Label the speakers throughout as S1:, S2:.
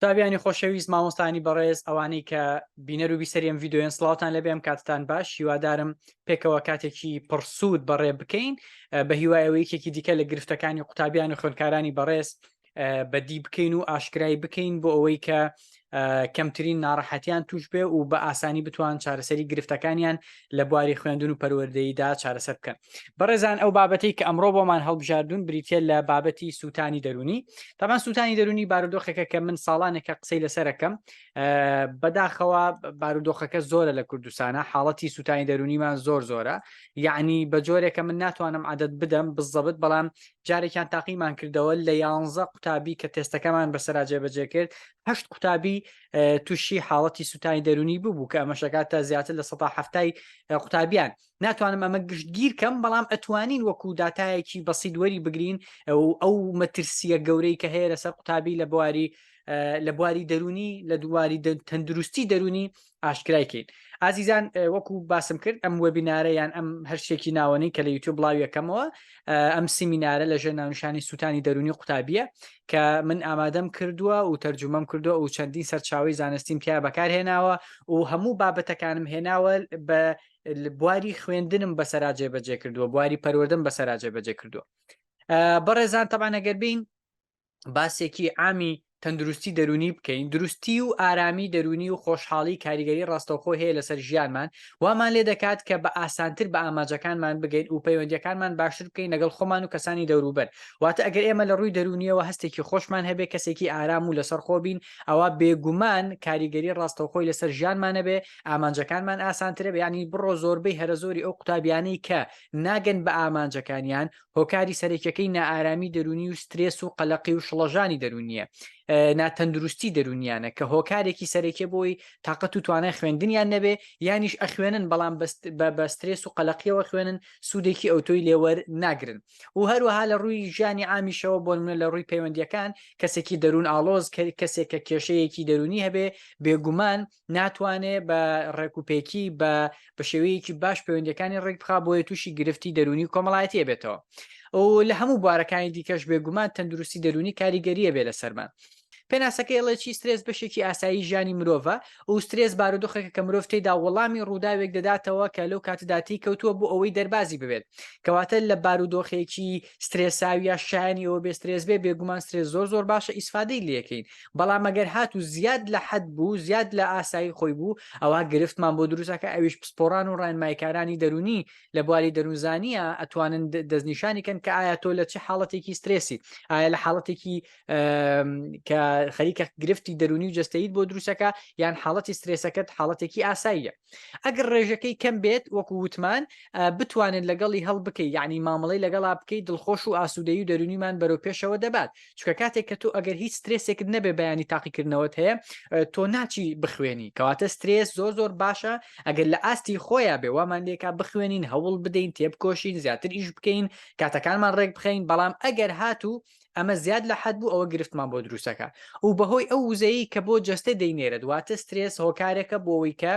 S1: تابیانی خۆشەویست مامۆستانی بەڕێز ئەوانەی کە بینەر و بیسەریم یددیوێن سلااوان لە بێم کاتتان باش هیوادارم پێکەوە کاتێکی پڕسوود بەڕێ بکەین بە هیوایەوە یەکێکی دیکە لە گرفتەکانی قوتابیان و خوێنکارانی بەڕێز بەدی بکەین و ئاشکرای بکەین بۆ ئەوەی کە کەمترین ناڕەحەتیان توش بێ و بە ئاسانی بتوان چارەسەری گرفتەکانیان لە بواری خوێندون و پەروەردەییدا چارەسەر بکەن بەڕێزان ئەو بابەتی کە ئەمڕۆ بۆمان هەڵبژاردون بریتە لە بابەتی سووتانی دەرونی تامان سووتانی دەرونی بارودۆخێکە کە من ساڵانێکە قسەی لەسەرەکەم بەداخەوە بارودۆخەکە زۆرە لە کوردستانە حاڵەتی سووتانی دەرونیمان زۆر زۆرە یعنی بە جۆرێکە من ناتوانم عادەت بدەم بزەبت بەڵام جارێکیان تاقیمان کردەوە لە یانزە قوتابی کە تێستەکەمان بەسەراجێ بەجێ کرد هەشت قوتابی تووشی حاڵەتی سووتانی دەرونی ببوو کە ئەمەشەکاتە زیاتر لە 1970 قوتابیان ناتوانم ئەمە گشتگیر کەم بەڵام ئەتوانین وەکو دااتایەکی بەسی دووەری بگرین ئەو مەترسیە گەورەی کە هەیە لەسەر قوتابی لە بواری لە بواری دەرونی لە دوواری تەندروستی دەرونی ئاشکرایکەین ئازیزان وەکو باسم کرد ئەم وەبینارە یان ئەم هەرشتێکی ناوەنی کە لە یوتیوب بڵاویەکەمەوە ئەم سیمینارە لە ژێر ناونشانی سووتانی دەرونی قوتابیە کە من ئامادەم کردووە و تەرجومەم کردووە و چەندین سەرچاوەی زانستیم تیا بەکارهێناوە و هەموو بابەتەکانم هێناوە بە بواری خوێندنم بەسەرا جێبەجێ کردووە بواری پەروەردەم بەسەرا جێبەجێ کردووە بەڕێزان تەبانەگەر بین باسێکی ئامی تەندروستی دەرونی بکەین دروستی و ئارامی دەرونی و خۆشحاڵی کاریگەری ڕاستەوخۆ هەیە لەسەر ژیانمان وامان لێ دەکات کە بە ئاسانتر بە ئاماجەکانمان بگەین و پەیوەندییەکانمان باشتر بکەین لەگەڵ خۆمان و کەسانی دەوروبەر. واتە ئەگەر ئێمە لە ڕووی دەروونییەوە هەستێکی خۆشمان هەبێ، کەسێکی ئارام و لەسەرخۆ بین، ئەوا بێگومان کاریگەری ڕاستەوخۆی لەسەر ژیانمان هەبێ، ئامانجەکانمان ئاسانترە. یانی بڕۆ زۆربەی هەرەزۆری ئەو قوتابیانەی کە ناگەن بە ئامانجەکانیان، هۆکاری سەرەکیەکەی نائارامی دەرونی و سترێس و قەلەقی و شڵەژانی دەرونیە ناتەندروستی دەرونیانە کە هۆکارێکی سەرەکیە بۆی تااقەت و توانای خوێندنیان نەبێ یانیش ئەخوێنن بەڵام بە بەسترێس و قەلەقیەوە خوێنن سوودێکی ئەوتۆی لێوەر ناگرن و هەروەها لە ڕووی ژیانی ئامیشەوە بۆ منە لە ڕووی پەیوەندیەکان کەسێکی دەروون ئالۆز کەسێک کە کێشەیەکی دەرونی هەبێ بێگومان ناتوانێ بە ڕێکوپێکی بە بە شێوەیەکی باش پەیوەندەکانی ڕێک بخا بۆیە تووشی گرفتی دەرونی و کۆمەڵایەتیە بێتەوە ئەو لە هەموو بوارەکانی دیکەش بێگومان تەندروستی دەرونی کاریگەریە بێ لەسەرمان پێناسەکە ئێڵێ چی سترێس بەشێکی ئاسایی ژیانی مرۆڤە و سترێس بارودۆخێکە کە مرۆڤ تێدا وەڵامی ڕووداوێک دەداتەوە کە لەو کاتداتی کەوتووە بۆ ئەوەی دەربازی ببێت کەواتە لە بارودۆخێکی سترێساویە شایەنی ئەوە بێ سترێس بێ بێگومان سترێس زۆر زۆر باشە ئیسفادەی لەکەین بەڵام مەگەر هات و زیاد لە حەد بوو زیاد لە ئاسایی خۆی بوو ئەوە گرفتمان بۆ دروستەکە ئەویش پسپۆران و ڕێنمایکارانی دەرونی لە بواری دەروونزانە ئەتوانن دەستنیشانی کەن کە ئایا تۆ لە چه حاڵەتێکی سترێسی ئایا لە حاڵەتێکی کە خەریکە گرفتی دەرونی و جستەیت بۆ دروستەکە یان حاڵەتی سترێسەکەت حاڵەتێکی ئاساییە ئەگەر ڕێژەکەی کەم بێت وەکو وتمان بتوانێت لەگەڵی هەڵ بکەی یعنی مامەڵی لەگەڵا بکەی دڵخۆش و ئاسوودەی و دەرونیمان بەرەو پێشەوە دەبات چکە کاتێک کە تۆ ئەگەر هیچ سترێسێکت نەبێ بەیانی تاقیکردنەوەت هەیە تۆ ناچی بخوێنی کەواتە سترێس زۆر زۆر باشە ئەگەر لە ئاستی خۆیان بێ وامان لێکا بخوێنین هەوڵ بدەین تێبکۆشین زیاتر ئیش بکەین کاتەکانمان ڕێک بخەین بەڵام ئەگەر هاتوو ئەمە زیاد لە حەد بوو ئەوە گرفتمان بۆ دروستەکە و بەهۆی ئەو وزەیە کە بۆ جەستە دەینێرێت واتە سترێس هۆکارێکە بۆەوەی کە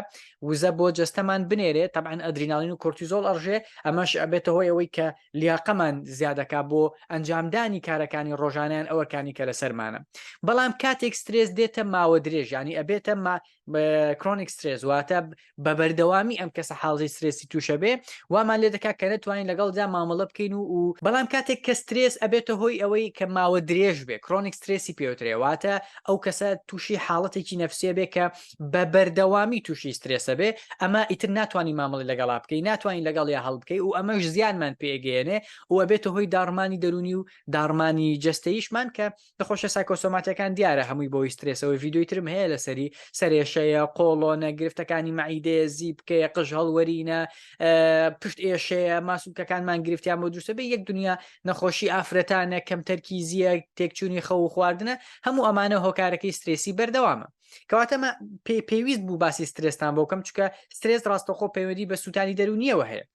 S1: وزە بۆ جەستەمان بنێرێت تەبان ئەدریناڵین و کورتیزۆڵ ئەڕژێ ئەمەش ئەبێتە هۆی ئەوەی کە لیاقەمان زیادەکە بۆ ئەنجامدانی کارەکانی ڕۆژانیان ئەوەکانی کە لەسەرمانە بەڵام کاتێک سترێس دێتە ماوە درێژانی ئەبێتە کرۆنیک سترێز واتە بە بەردەوامی ئەم کەسە حاڵی سرێسی تووشە بێ وامان لێ دەکات کە نەتوانین لەگەڵدا مامەڵە بکەین و و بەڵام کاتێک کە سترێس ئەبێتە هۆی ئەوەی کە ماوە درێژ بێ کرۆنیک سترێسی پێوترێواتە ئەو کەسە تووشی حاڵەتێکی نەفسێ بێ کە بە بەردەوامی تووشی سترێسە بێ ئەمە ئیتر ناتوانانی مامەڵی لەگەڵا بکەی ناتوانین لەگەڵ یا هەڵبکەی و ئەمەش زیانمان پێگەێنێ و ئەبێتە هۆی داڕمانی دەرونی و داڕمانی جستەیشمان کە نەخۆشیە سایکۆسۆماتیەکان دیارە هەمووی بۆی سترێسەوەی ڤیددیوی ترم هەیە لە سەری سەرێشەیە قۆڵۆنە گرفتەکانی مەعیدەیە زیبکەیە قژ هەڵوەرینە پشت ئێشەیە ماسوولکەکانمان گرفتیان بۆ دروستە بێ یەک دنیا نەخۆشی ئافرەتانە کەم تەرکیزیە تێکچوونی خەو و خواردنە هەموو ئەمانە هۆکارەکەی سترێسی بەردەوامە کەواتەمە پێ پێویست بوو باسی سترێستان بۆ کەم چکە سترێس ڕاستەخۆ پەیوەندی بە سووتانی دەرونیەوە هەیە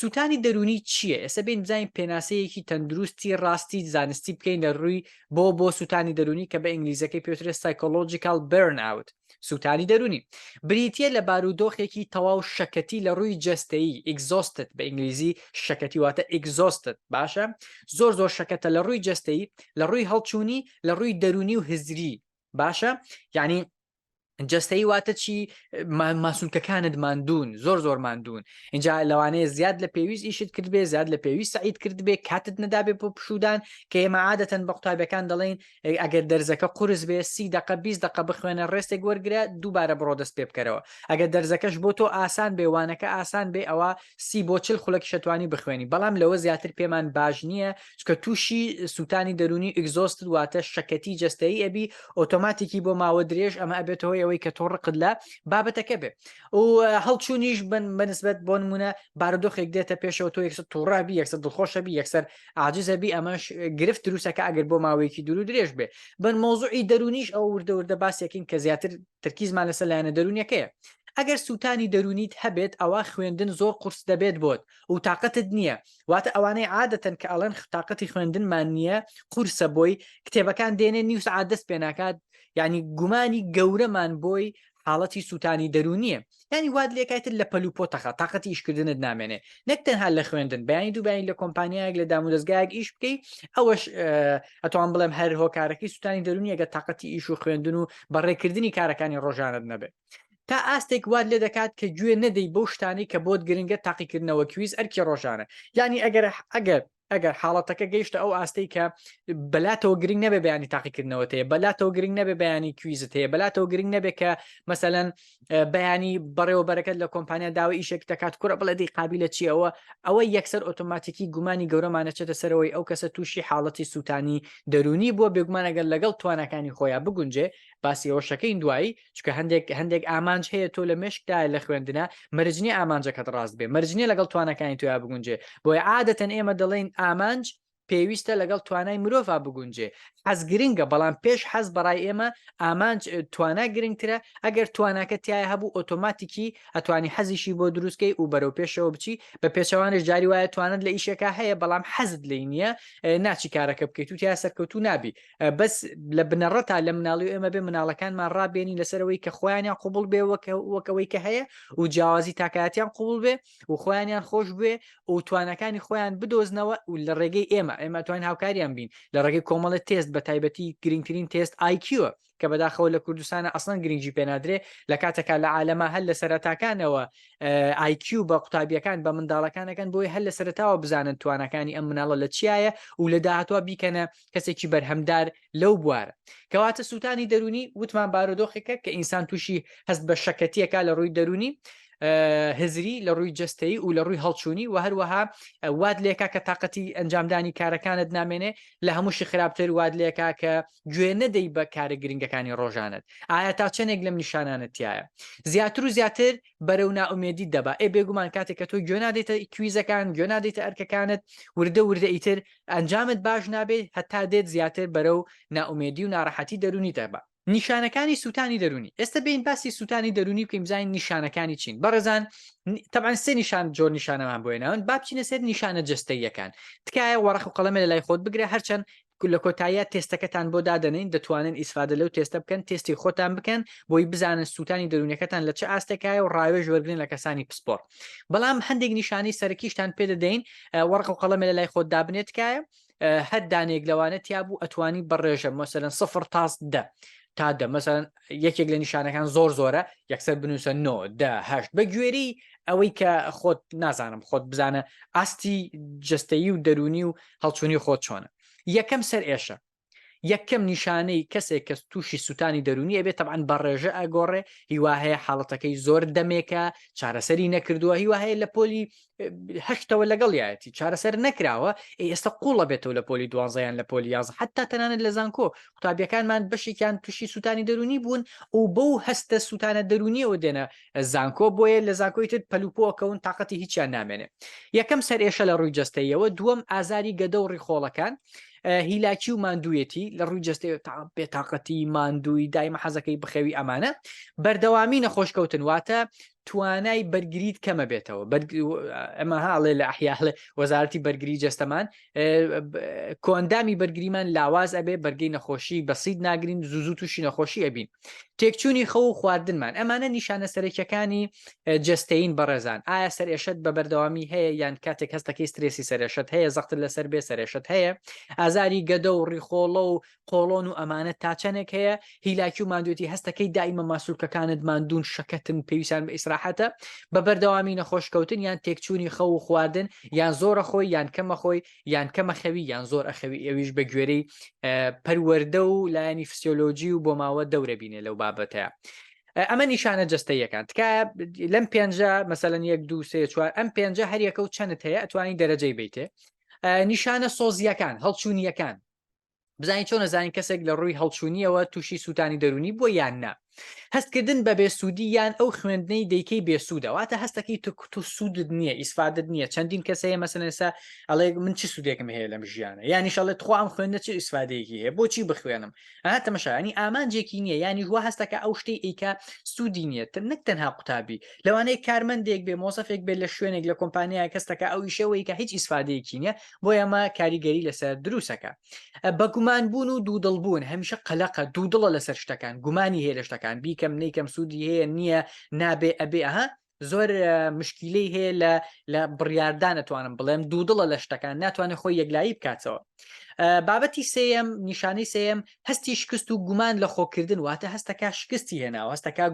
S1: سووتانی دەرونی چییە ئێستا بین بزانین پێناسەیەکی تەندروستی ڕاستی زانستی بکەین لە ڕووی بۆ بۆ سووتانی دەرونی کە بە ئینگلیزەکەی پێترێت سایکۆلۆژیکال برن ئاوت سووتانی دەرونی بریتە لە بارودۆخێکی تەواو شەکەتی لە ڕووی جستەیی ئیگزۆستت بە ئینگلیزی شەکەتی واتە ئیگزۆستت باشە زۆر زۆر شەکەتە لە ڕووی جستەی لە ڕووی هەڵچوونی لە ڕووی دەرونی و هزری باشە یعنی جستەی واتە چی ماسونکەکانت مادون زۆر زۆر مادون اینجا لەوانەیە زیاد لە پێویست ئیشت کرد بێ زیاد لە پێویست سعید کرد بێ کاتت نەدابێ بۆ پشودان کە ئێمە عادەتەن بە قوتابەکان دەڵێن ئەگەر دەرزەکە قرس بێ سی دقە 20 دقە بخوێنە ڕێستێک وەرگرە دووبارە بڕۆ دەست پێ بکەرەوە ئەگەر دەرزەکەش بۆ تۆ ئاسان بێ وانەکە ئاسان بێ ئەوە سی بۆ چل خولەکی شەتوانی بخوێنی بەڵام لەوە زیاتر پێمان باش نییە چونکە تووشی سووتانی دەرونی ئیگزۆستت واتە شەکەتی جەستایی ئەبی ئۆتۆماتیکی بۆ ماوە درێژ ئەمە ئەبێتەوەی ئەوەی کە تۆ ڕقت لە بابەتەکە بێ و هەڵچوونیش بن بەنسبەت بۆ نمونە بارودۆخێک دێتە پێشەوە تۆ یەکسە تووڕابی یەکسە دڵخۆشەبی یەکسەر عجززەبی ئەمەش گرفت دروستەکە ئەگەر بۆ ماوەیەکی دوور و درێژ بێ بن مۆزوعی دەرونیش ئەو وردەوردە باسێکین کە زیاتر ترکیزمان لەسەر لایەنە دەرونیەکەیە ئەگەر سووتانی دەرونیت هەبێت ئەوە خوێندن زۆر قرس دەبێت بۆت و تااقەتت نییە واتە ئەوانەی عادەتەن کە ئەڵێن تااقەتی خوێندنمان نییە قورسە بۆی کتێبەکان دێنێ نیو سعات دەست پێ ناکات یعنی گومانی گەورەمان بۆی حاڵەتی سووتانی دەرونیە ینی واد لێکایتر لە پەلو پۆتەخە تااقەتی ئیشکردنت نامێنێ نەک تەنها لە خوێندن بەیانی دووبیانی لە کۆمپانیایەک لە دام و دەستگایەک ئیش بکەی ئەوەش ئەتوان بڵێم هەر هۆکارەکەی سووتانی دەرونیەگە تااقەتی ئیش و خوێندن و بەڕێکردنی کارەکانی ڕۆژانت نەبێت تا ئاستێک وات لێ دەکات کە گوێ نەدەی بەو شتانەی کە بۆت گرنگە تاقیکردنەوە کویز ئەرکی ڕۆژانە یانی ئەگەر ئەگەر ئەگەر حاڵەتەکە گەیشتە ئەو ئاستەی کە بەلاتەوە گرنگ نەبێ بەیانی تاقیکردنەوە هەیە بەلاتەوە گرنگ نەبێ بەیانی کویزت هەیە بەلاتەوە گرنگ نەبێ کە مەسەەن بەیانی بەڕێوەبەرەکەت لە کۆمپانیا داوای ئیشێک دەکات کوڕە بڵێ دی قابلە چیەوە ئەوە یەکسەر ئۆتۆماتیکی گومانی گەورەمانەچێتە سەرەوەی ئەو کەسە تووشی حاڵەتی سووتانی دەرونی بووە بێگومانەگەر لەگەڵ توانەکانی خۆیان بگونجێ باسی ئەوشەکەین دوایی چکە هەندێک هەندێک ئامانج هەیە تۆ لە مشکدا لە خوێندنە مەرجنی ئامانجەکەت ڕاست بێ مەرجنی لەگەڵ توانەکانی تویا بگونجێ بۆی عادەتەن ئێمە دەڵێن ئامانج پێویستە لەگەڵ توانای مرۆڤا بگونجێ حەز گرنگە بەڵام پێش حەز بەڕای ئێمە ئامانج توانا گرنگترە ئەگەر تواناکە تایە هەبوو ئۆتۆماتیکی ئەتوانی حەزیشی بۆ دروستکەی و بەرەو پێشەوە بچی بە پێچەوانش جاری وایە توانت لە ئیشەکە هەیە بەڵام حەزت لی نییە ناچی کارەکە بکەیت و تیا سەرکەوتو نابی بەس لە بنەڕەتا لە مناڵی و ئێمە بێ مناڵەکانمان ڕابێنین لەسەر ئەوەی کە خۆیانیان قوبول بێ وەکەوەی کە هەیە و جیاوازی تاکاتیان قوبول بێ و خۆیانیان خۆش بێ و توانەکانی خۆیان بدۆزنەوە و لە ڕێگەی ئێمە ئێمە توان هاوکاریان بین لە ڕێگەی کۆمەڵە تێست بە تایبەتی گرنگترین تێست آیکیوە کە بەداخەوە لە کوردستانە ئەسڵەن گرنگجی پێنادرێ لە کاتەکە لە عالەما هەر لە سەرەتاکانەوە آیکیو بە قوتابیەکان بە منداڵەکانەکەن بۆی هەر لە سەرتاوە بزانن توانەکانی ئەم مناڵە لە چیایە و لە داهاتوە بیکەنە کەسێکی بەرهەمدار لەو بوارە کەواتە سووتانی دەرونی وتمان بارودۆخێکە کە ئینسان تووشی هەست بە شەکەتیەکە لە ڕووی دەرونی هزری لە ڕووی جستەی و لە ڕووی هەڵچوونی و هەروەها واد لێکا کە تااقەتی ئەنجامدانی کارەکانت نامێنێ لە هەمووشی خراپتر واد لێکا کە گوێ نەدەی بە کارە گرنگەکانی ڕۆژانت ئایا تا چەندێک لەم نیشانانەتیایە زیاتر و زیاتر بەرەو ناومێدی دەبا ئێ بێگومان کاتێک کە تۆ گوێ نادێتە کویزەکان گوێ نادێتە ئەرکەکانت وردە وردە ئیتر ئەنجامت باش نابێت هەتا دێت زیاتر بەرەو نائومێدی و ناڕەحەتی دەروونی دەبا. نیشانەکانی سووتانی دەروونی، ئێستا بێین باسی سووتانی دەروونی بکەین بزانین نیشانەکانی چین بەڕێزان تەبعەن سێ نیشان جۆر نیشانەمان بۆ هێناون با بچینە سەر نیشانە جەستەییەکان تکایە وەڕەق و قەڵەمێ لەلای خۆت بگرە هەرچەند لە کۆتاییە تێستەکەتان بۆ دادەنین دەتوانن ئیسفادە لەو تێستە بکەن تێستی خۆتان بکەن بۆی بزانن سووتانی دەروونەکەتان لە چ ئاستێکایە و ڕاوێژ وەرگرن لە کەسانی پسپۆڕ بەڵام هەندێک نیشانەی سەرەکیشتان پێ دەدەین وەڕق و قەڵەمێ لە لای خۆت دابنێ تکایە هەر دانێک لەوانە تیا بوو ئەتوانی بەڕێژە مەسەرەن سفر تاس دە تا دە مەسەرەن یەکێک لە نیشانەکان زۆر زۆرە یەکسەر بنووسە نۆ دهشت بە گوێری ئەوەی کە خۆت نازانم خۆت بزانە ئاستی جستەیی و دەرونی و هەڵچوونی خۆت چۆنە یەکەم سەر ئێشە یەکەم نیشانەی کەسێک کەس تووشی سووتانی دەرونی ئەبێت تەبان بە ڕێژە ئەگۆڕێ هیوا هەیە حاڵەتەکەی زۆر دەمێکە چارەسەری نەکردووە هیوا هەیە لە پۆلی هەشتەوە لەگەڵ یاەتی چارەسەر نەکراوە ئێستا قوڵە بێتەوە لە پۆلی دوانزەیان لە پۆلی یاز حتا تەنانەت لە زانکۆ قوتابیەکانمان بەشێکیان تووشی سووتانی دەرونی بوون و بەو هەستە سووتانە دەرونیەوە دێنە زانکۆ بۆیە لە زانکۆی تر پەل و پۆ ئەکەون تاقەتی هیچیان نامێنێ یەکەم سەر ئێشە لە ڕووی جەستەیەوە دووەم ئازاری گەدە و ڕیخۆڵەکان هیلاکی و ماندوویەتی لە ڕووی جەستەیە تا بێتاقەتی ماندووی دایمە حەزەکەی بخەوی ئەمانە بەردەوامی نەخۆش کەوتن واتە توانای بەرگریت کەمە بێتەوە ئەمە هاڵێ لە ئەحیاڵێ وەزارەتی بەرگری جەستەمان کۆندامی بەرگریمان لاواز ئەبێ بەرگی نەخۆشی بەسید ناگرین زوزو تووشی نەخۆشی ئەبین تێکچوونی خەو و خواردنمان ئەمانە نیشانە سەرەکیەکانی جستەین بەڕێزان ئایا سەرێشت بە بەردەوامی هەیە یان کاتێک هەستەکەی سترێسی سەرێشت هەیە زەختر لەسەر بێ سەرێشت هەیە ئازاری گەدە و ڕیخۆڵە و قۆڵۆن و ئەمانە تا چەندێک هەیە هیلاکی و مادوێتی هەستەکەی دایمە ماسوولکەکانت مادون شەکەتن پێویستان بە ئیسراحەتە بە بەردەوامی نەخۆشکەوتن یان تێکچوونی خەو و خواردن یان زۆرە خۆی یان کەمە خۆی یان کەم ئەخەوی یان زۆر ئەخەوی ئەویش بە گوێرەی پەروەەردە و لایەنی فسیۆلۆجی و بۆماوە دەورە بینێ لەو بابەتەیە ئەمە نیشانە جستەیەکان تکایە لەم پێنجە مەسەەن یەک دو سێ چوار ئەم پێنجە هەریەکە و چەند هەیە ئەتوانی دەرەجەی بیتێ نیشانە سۆزیەکان هەڵچوونیەکان بزانین چۆن نەزانین کەسێک لە ڕووی هەڵچوونیەوە تووشی سووتانی دەرونی بۆ یان نا هەستکردن بە بێسوودی یان ئەو خوێندنەی دەیکەی بێسوودەواتە هەستەکەی تکوت و سوودت نییە ئیسفادت نییە چەندین کەس هەیە مەسەنسا ئەڵێ من چی سوودێکم هەیە لەم ژیانە یانیشەڵێت خۆم خوێندە چ ئیسفادەیەکی هەیە بۆچی بخوێنم ها تەمەشانی ئامانجێکی نییە ینی هو هەستەکە ئەو شتی ئیکە سوودی نییە تر نەک تەنها قوتابی لەوانەیە کارمەندێک بێ مۆسەفێک بێت لە شوێنێک لە کۆمپانیا کەستەکە ئەو ئیشەوەی کە هیچ ئیسفادەیەکی نییە بۆیە ئەمە کاریگەری لەسەر دروسەکە بە گومان بوون و دوودڵ بوون هەمیشە قەلەقە دوودڵە لەسەر شتەکان گومانی هەیە لە شتەکان بیکەم نیکەم سوودی هەیە نییە نابێ ئەبێ ئەها زۆر مشکیلەی هەیە لە لە بڕاردان ئەتوانم بڵێم دوودڵە لە شتەکان ناتوانێت خۆی یەکلایی بکاتەوە بابەتی سم نیشانەی سم هەستی شکست و گومان لە خۆکردن واتە هەستەکە شکستی هێناوە هەستەکە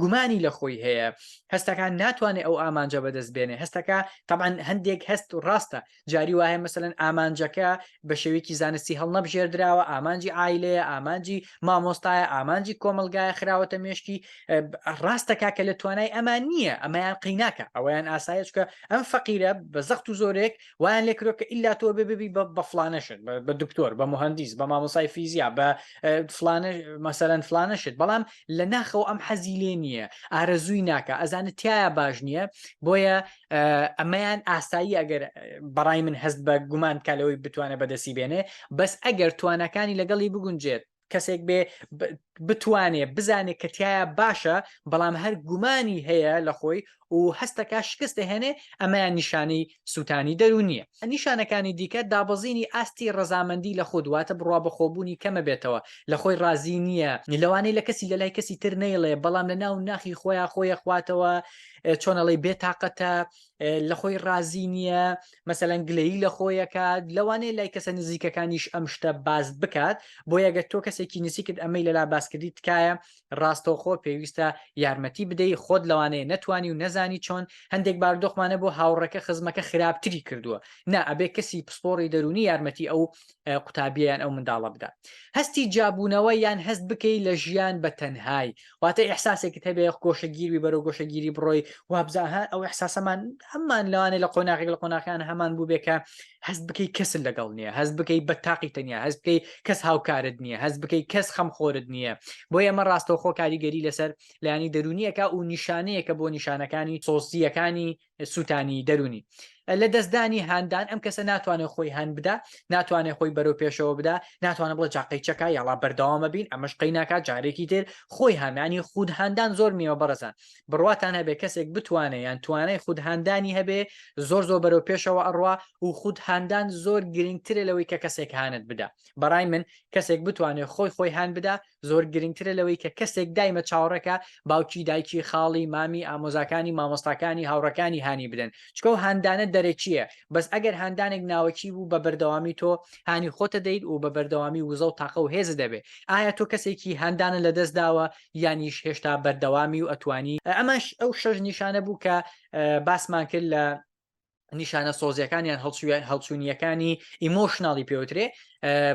S1: گومانی لە خۆی هەیە هەستەکان ناتوانێت ئەو ئامانجە بەدەست بێنێ هەستەکە تەمان هەندێک هەست و ڕاستە جاری وایە مەسەن ئامانجەکە بە شێوەیەکی زانستی هەڵنەبژێردراوە ئامانجی ئایلەیە ئامانجی مامۆستایە ئامانجی کۆمەلگایە خراوەتە مێشکی ڕاستەکە کە لە توانای ئەمان نییە ئەمەیان قیناکە ئەویان ئاسایچکە ئەم فەقیرە بە زەخت و زۆرێک وایان لێ کرۆ کە ئللا تۆ بێ ببی بە فلانەشت بە دکتۆر بە مهندیس بە مامۆسای فیزیا بە فلانە مەسەرەن فلانەشت بەڵام لە ناخەوە ئەم حەزی لێ نییە ئارەزووی ناکە ئەزانە تایە باش نییە بۆیە ئەمەیان ئاسایی ئەگەر بەڕای من هەست بە گومان کالەوەی بتوانە بەدەسی بێنێ بەس ئەگەر توانەکانی لەگەڵی بگونجێت کەسێک بێ بتوانێ بزانێت کە تایە باشە بەڵام هەر گومانی هەیە لە خۆی و هەستەکە شکست دەهێنێ ئەمەیان نیشانەی سووتانی دەرونیە نیشانەکانی دیکە دابەزینی ئاستی ڕەزامەندی لە خود واتە بڕوا بەخۆبوونی کەمە بێتەوە لە خۆی ڕازی نییە لەوانەیە لە کەسی لە لای کەسی تر نەیڵێ بەڵام لە ناو ناخی خۆیان خۆیە خواتەوە چۆنەڵی بێتاقەتە لە خۆی ڕازی نییە مەسەلەن گلەیی لە خۆی ئەکات لەوانەیە لای کەسە نزیکەکانیش ئەم شتە باس بکات بۆیە گەر تۆ کەسێکی نزیکت ئەمەی لەلا باسکردی تکایە ڕاستەوخۆ پێویستە یارمەتی بدەی خۆت لەوانەیە نەتوانی و نەزانی چۆن هەندێک باردۆخمانە بۆ هاوڕێکە خزمەکە خراپتری کردووە نا ئەبێ کەسی پسپۆڕی دەرونی یارمەتی ئەو قوتابیە یان ئەو منداڵە بدا هەستی جابوونەوە یان هەست بکەی لە ژیان بە تەنهایی واتە ئەحساسێکت هەبێ گۆشەگیری بەرەو گۆشەگیری بڕۆی وابزاها ئەو ئەحساسەمان هەمان لەوانێ لە قۆناغێک لە قۆناغیان هەمان بوو بێکە هەست بکەی کەسن لەگەڵ نییە هەست بکەی بە تاقی تەنیا هەست بکەی کەس هاوکارت نییە هەست بکەی کەس خەم خۆرت نییە بۆ ئێمە ڕاستەوخۆ کاریگەری لەسەر لایانی دەرونیەکە و نیشانەیەکە بۆ نیشانەکانی سۆسییەکانی سووتانی دەرونی لە دەستدانی هاندان ئەم کەسە ناتوانێت خۆی هەند بدا ناتوانێت خۆی بەرەو پێشەوە بدا ناتوانە بڵە جاقی چەکە یاڵا بەردەوامە بین ئەمەش قەی ناکات جارێکی تر خۆی هامیانی خود هاندان زۆر نیوە بەڕزان بڕواتان هەبێ کەسێک بتوانێت یان توانای خود هاندانی هەبێ زۆر زۆر بەرەو پێشەوە ئەڕوا و خود هاندان زۆر گرنگترە لەوەی کە کەسێک هاند بدا بەڕای من کەسێک بتوانێت خۆی خۆی هاند بدا زۆر گرنگترە لەوەی کە کەسێک دایمە چاوەڕێکە باوکی دایکی خاڵی مامی ئامۆزاکانی مامۆستاکانی هاوڕەکانی هانی بدەن چکەو هاندانە دەرەکیە بەس ئەگەر هاندانێک ناوەکی بوو بە بەردەوامی تۆ هانی خۆتە دەیت و بە بەردەوامی وزە و تاقە و هێز دەبێ ئایا تۆ کەسێکی هاندانە لە دەست داوە یانیش هێشتا بەردەوامی و ئەتوانی ئەمەش ئەو شەش نیشانە بوو کە باسمان کرد لە نیشانە سۆزیەکانیان هەڵچوونیەکانی ئیمۆشنناڵی پێوترێ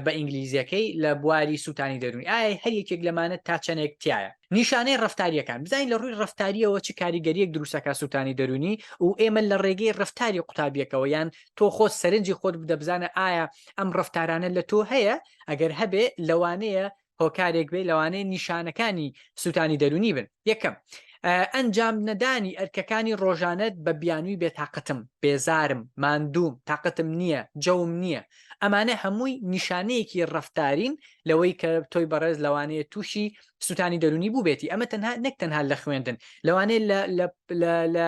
S1: بە ئینگلیزیەکەی لە بواری سووتانی دەروونی ئایا هەر یەکێک لەمانە تا چەندێک تایە نیشانەی ڕفتاریەکان بزانین لە ڕووی ڕفتاریەوە چ کاریگەریەک دروستەکە سووتانی دەروونی و ئێمە لە ڕێگەی ڕفتاری قوتابیەکەەوە یان تۆ خۆت سەرنجی خۆت بدەبزانە ئایا ئەم ڕفتارانە لە تۆ هەیە ئەگەر هەبێ لەوانەیە هۆکارێک بێ لەوانەیە نیشانەکانی سووتانی دەرونی بن یەکەم ئەنجام نەدانی ئەرکەکانی ڕۆژانت بە بیانووی بێتاقەتم بێزارم ماندووم تاقەتم نییە جەوم نییە ئەمانە هەمووی نیشانەیەکی ڕفتارین لەوەی کە تۆی بەڕێز لەوانەیە تووشی سووتانی دەرونی بووبێتی ئەمە تەنها نەک تەنها لە خوێندن لەوانەیە لە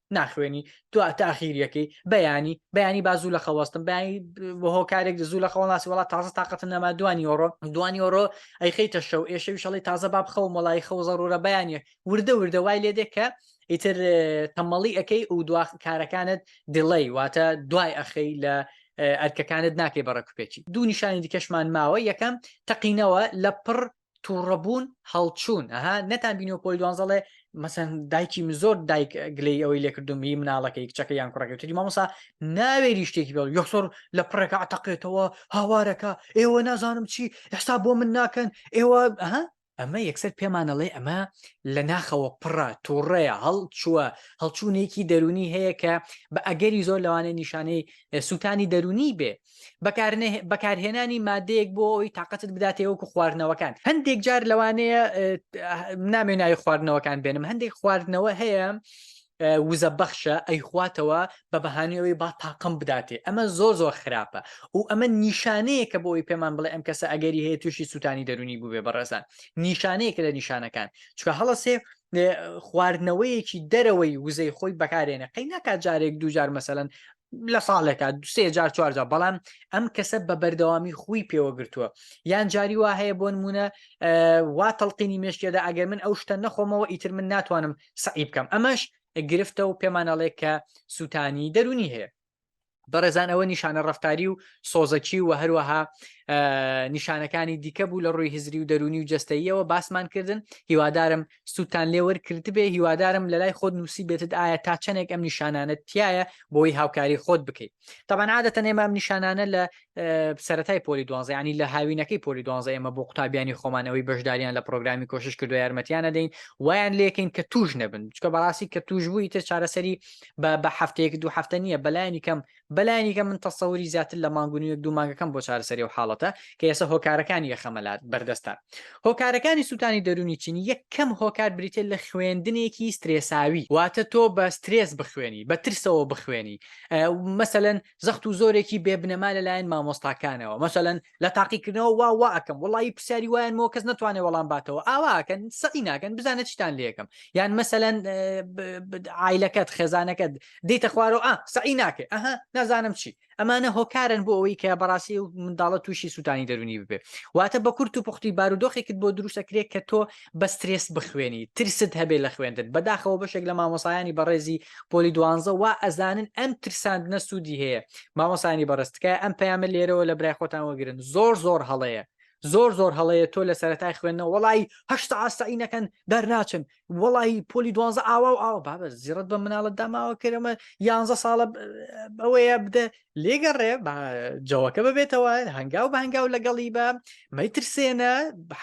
S1: ناخوێنی تو تاخیریەکەی بەیانی بەیانی با زوو لە خەوەستم بەیانی بە هۆکارێک زوو لە خەوەڵاسی وڵات تازە تااقەتە نەما دوانی ئۆڕۆ دوانی ئۆڕۆ ئەیخیتە شەو ئێشەوی شەڵی تازە باب خەو مەڵی خەو زەڕورە بەیانە وردە وردە وای لێ دێ کە ئیتر تەمەڵی ئەەکەی و دو کارەکانت دڵی واتە دوای ئەخی لە ئەرکەکانت ناکەی بەڕکوپێکی دوو نیشانی دیکەشمان ماوە یەکەم تەقینەوە لە پڕ تووڕەبوون هەڵچوون ئەها نەتان بینەوە پۆلی دوانزە ڵێ مەسەن دایکی من زۆر دایک گلەی ئەوەی لێکردم هی مناڵەکەی کچەکە یان کوڕەکەی تری مامۆسا ناوێری شتێکی بڵ یەکسۆر لە پڕێکە عتەقێتەوە هاوارەکە ئێوە نازانم چی ئێستا بۆ من ناکەن ئێوە ها ئەمە یەکسەر پێمانەڵێ ئەمە لە ناخەوە پڕە تووڕەیە هەڵ چووە هەڵچوونێکی دەرونی هەیە کە بە ئەگەری زۆر لەوانێ نیشانەی سووتانی دەرونی بێ بەکارهێنانی مادەیەک بۆ ئەوی تااقەتت بداتێ وەکو خواردنەوەکان هەندێک جار لەوانەیە نامێ ناوی خواردنەوەکان بێنم هەندێک خواردنەوە هەیە وزە بەخشە ئەیخواتەوە بە بەهانەوەی با تاقم بداتێ ئەمە زۆر زۆر خراپە و ئەمە نیشانەیە کە بۆی پێمان بڵێ ئەم کەسە ئەگەری هەیە تووشی سووتانی دەرونی بووێ بەڕێزان نیشانەیەکە لە نیشانەکان چکە هەڵەسێ خواردنەوەیەکی دەرەوەی وزەی خۆی بەکارێنە قەی ناکات جارێک دوجار مەسەن لە ساڵێکا دوسێ جار چوارجا بەڵام ئەم کەسە بە بەردەوامی خوی پێوەگرتووە یان جاری وا هەیە بۆ نمونە وا تەڵقینی مشکێدا ئەگەر من ئەو شتە نەخۆمەوە ئیتر من ناتوانم سعی بکەم ئەمەش گرفتە و پێمانەڵێ کە سووتانی دەرونی هەیە بەڕێزان ئەوە نیشانە ڕفتاری و سۆزەکی و هەروەها نیشانەکانی دیکە بوو لە ڕووی هزری و دەرونی و جستەیەوە باسمان کردن هیوادارم سوودتان لێ وەرکردبێ هیوادارم لە لای خۆت نووسی بێتت ئایا تا چەندێک ئەم نیشانانت تایە بۆی هاوکاری خۆت بکەیت تاوان عادەتە نێمە ئەم نیشانانە لە سەتای پۆلی دوانزیانی لە هاوینەکەی پۆلی دوانزە ئێمە بۆ قوتابیانی خۆمانەوەی بەشداریان لە پرۆگرامی کۆشش کردو یارمەتیانە دەین وایان لەکەین کە توش نەبن چکە بەڕاستی کە توش بووی تر چارەسەری بە بە هەفتەیەک دوو هەفتە نییە بەلایانی کەم بەلایەنیکە من تەسەوری زیاتر لە مانگ و نیوێک دوو مانگەکەم بۆ چارەسەری ئەو حاڵەتە کە ئێسە هۆکارەکانی یەخەمە لات بەردەستان هۆکارەکانی سووتانی دەرونی چین یەکەم هۆکار بریتە لە خوێندنێکی سترێساوی واتە تۆ بە سترێس بخوێنی بە ترسەوە بخوێنی مەسەەن زەخت و زۆرێکی بێبنەما لەلایەن مامۆستاکانەوە مەسەەن لە تاقیکردنەوە وا وا ئەکەم وڵی پرسیاری وایان مۆ کەس نتوانێت وەڵام باتەوە ئاواکەن سەقی ناکەن بزانە چیتان لەکەم یان مەسەەن ئایلەکەت خێزانەکەت دیتە خوارەوە ئا سەعی ناکەێت ئەها نازانم چی ئەمانە هۆکارن بۆ ئەوەی کە بەڕاستی و منداڵە تووشی سووتانی دەرونی ببێ واتە بە کورت و پختی بارودۆخێکت بۆ دروستەکرێت کە تۆ بە سترێس بخوێنی ترست هەبێ لە خوێندن بەداخەوە بەشێک لە مامۆسایانی بەڕێزی پۆلی دوانزە وا ئەزانن ئەم ترساندنە سوودی هەیە مامۆسایانی بەڕێز تکایە ئەم پەیامە لێرەوە لە برای خۆتان وەگرن زۆر زۆر هەڵەیە زۆر زۆر هەڵەیە تۆ لە سەرەتای خوێندنەوە وڵی هەشت ئاستایی نەکەن دەرناچن وڵی پۆلی دوانزە ئاوا و ئاوا بابە زیڕت بە مناڵت داماوە کرەمە یانزە ساڵە ئەوەیە بدە لێگەڕێ جەوەکە ببێتەوە هەنگاو بە هەنگاو لەگەڵی بە مەترسێنە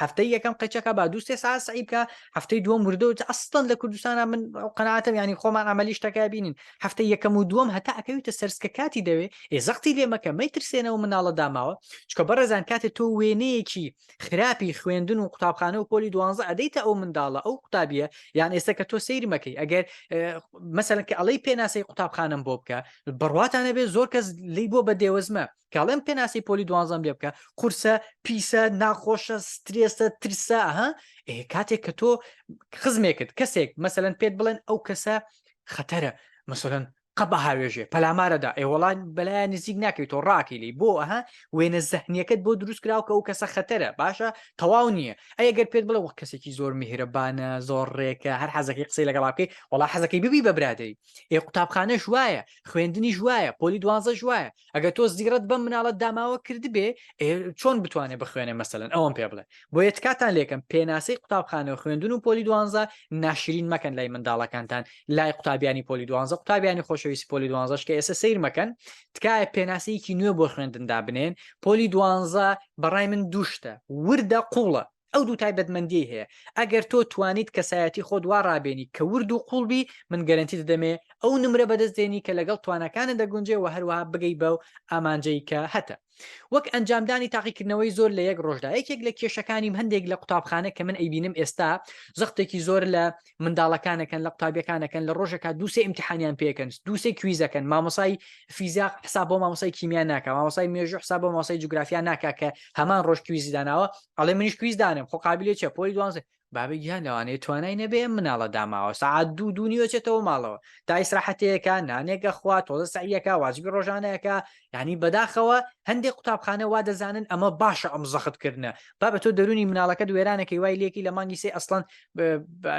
S1: هەفتەی یەکەم قەچەکە با دووسێ ساسعیبکە هەفتەی دووەم وردەوت ئەستان لە کوردستانە من قەناتم ینی خۆمان ئەمەلیش تەکای بینین هەفتەی یەکەم و دووەم هەتا ئەکەویتە سەرسکە کاتی دەوێ ئێ زەختی لێمەکە مەترسێنەوە مناڵە داماوە چکە بەڕێزان کاتێ تۆ وێنەیەکی خراپی خوێندن و قوتابخانە و پۆلی دوانزە ئەدەیتە ئەو منداڵە ئەو قوتابیە یان ئێستا کە تۆ سەیرمەکەی ئەگەر مەسەن کە ئەڵەی پێناسەی قوتابخانم بۆ بکە بڕواتانە بێ زۆر کەس لی بۆ بە دێوەزمە کاڵێم پێناسی پۆلی دوانزەم لێ بکە قورسە پیسە ناخۆشە سترێسە ترسە ها کاتێک کە تۆ خزمێکت کەسێک مەسەن پێت بڵێن ئەو کەسە خەتەرە مەسەن قەبە هاوێژێ پەلامارەدا ئێوەڵان بەلایەن نزیک ناکەیت تۆ ڕاکی لی بۆ ئەها وێنە زەهنیەکەت بۆ دروست کراو کە ئەو کەسە خەتەرە باشە تەواو نییە ئەگەر پێت بڵێ وە کەسێکی زۆر میهرەبانە زۆر ڕێکە هەر حەزەکەی قسەی لەگەڵاکەی وڵا حەزەکەی ببی بە برادری ئێ قوتابخانەش وایە خوێندنیش وایە پۆلی دوازەش وایە ئەگە تۆ زیڕەت بەم مناڵەت داماوە کردبێ چۆن بتوانێت بخوێنێ مەسەن ئەوم پێ بڵێ بۆ یە تکاتان لێکم پێناسی قوتابخانەوە خوێندن و پۆلی دوانزە ناشرین مەکەن لای منداڵەکانتان لای قوتابیانی پۆلی دوانزە قوتابیانی خۆشەویستی پۆلی دوانزەش کە ئێستا سیر مەکەن تکایە پێناسەیەکی نوێ بۆ خوێندندا بنێن پۆلی دوانزە بەڕای من دوشتە وردە قوڵە ئەو دوو تایبەتمەندیەی هەیە ئەگەر تۆ توانیت کەسایەتی خۆت وا ڕابێنی کە ورد و قوڵبی من گەرنتی دەدەمێ ئەو نمرە بەدەست دێنی کە لەگەڵ توانەکانە دەگونجێ و هەروەها بگەی بە و ئامانجەی کە هەتە وەک ئەنجامدانی تاقیکردنەوەی زۆر لە یەک ڕۆژدا یەکێک لە کێشەکانیم هەندێک لە قوتابخانە کە من ئەیبینم ئێستا زەختێکی زۆر لە منداڵەکانەکەن لە قوتابیەکانەکەن لە ڕۆژەکە دووسێ امتحانیان پێکەن دووسێ کویزەکەن مامۆسای فیزیا حساب بۆ مامۆسای کیمیا ناکە مامۆسای مێژو حساب بۆ مامۆسای جوگرافیا ناکە کە هەمان ڕۆژ کویزی داناوە ئەڵێ منیش کویز دانم خۆ قابلێ چە پۆی دوانزە بابە گیان لەوانەیە توانای نەبێ مناڵە داماوە سعات دوو دوو نیوەچێتەوە ماڵەوە تا ئیسراحەتەیەەکە نانێکە خوا تۆزە سعیەکە واجبی ڕۆژانەکە یعنی بەداخەوە هەندێک قوتابخانە وا دەزانن ئەمە باشە ئەم زەخت کردنە با بە تۆ دەرونی مناڵەکەت وێرانەکەی وای لێکی لە مانگی سێ ئەسڵەن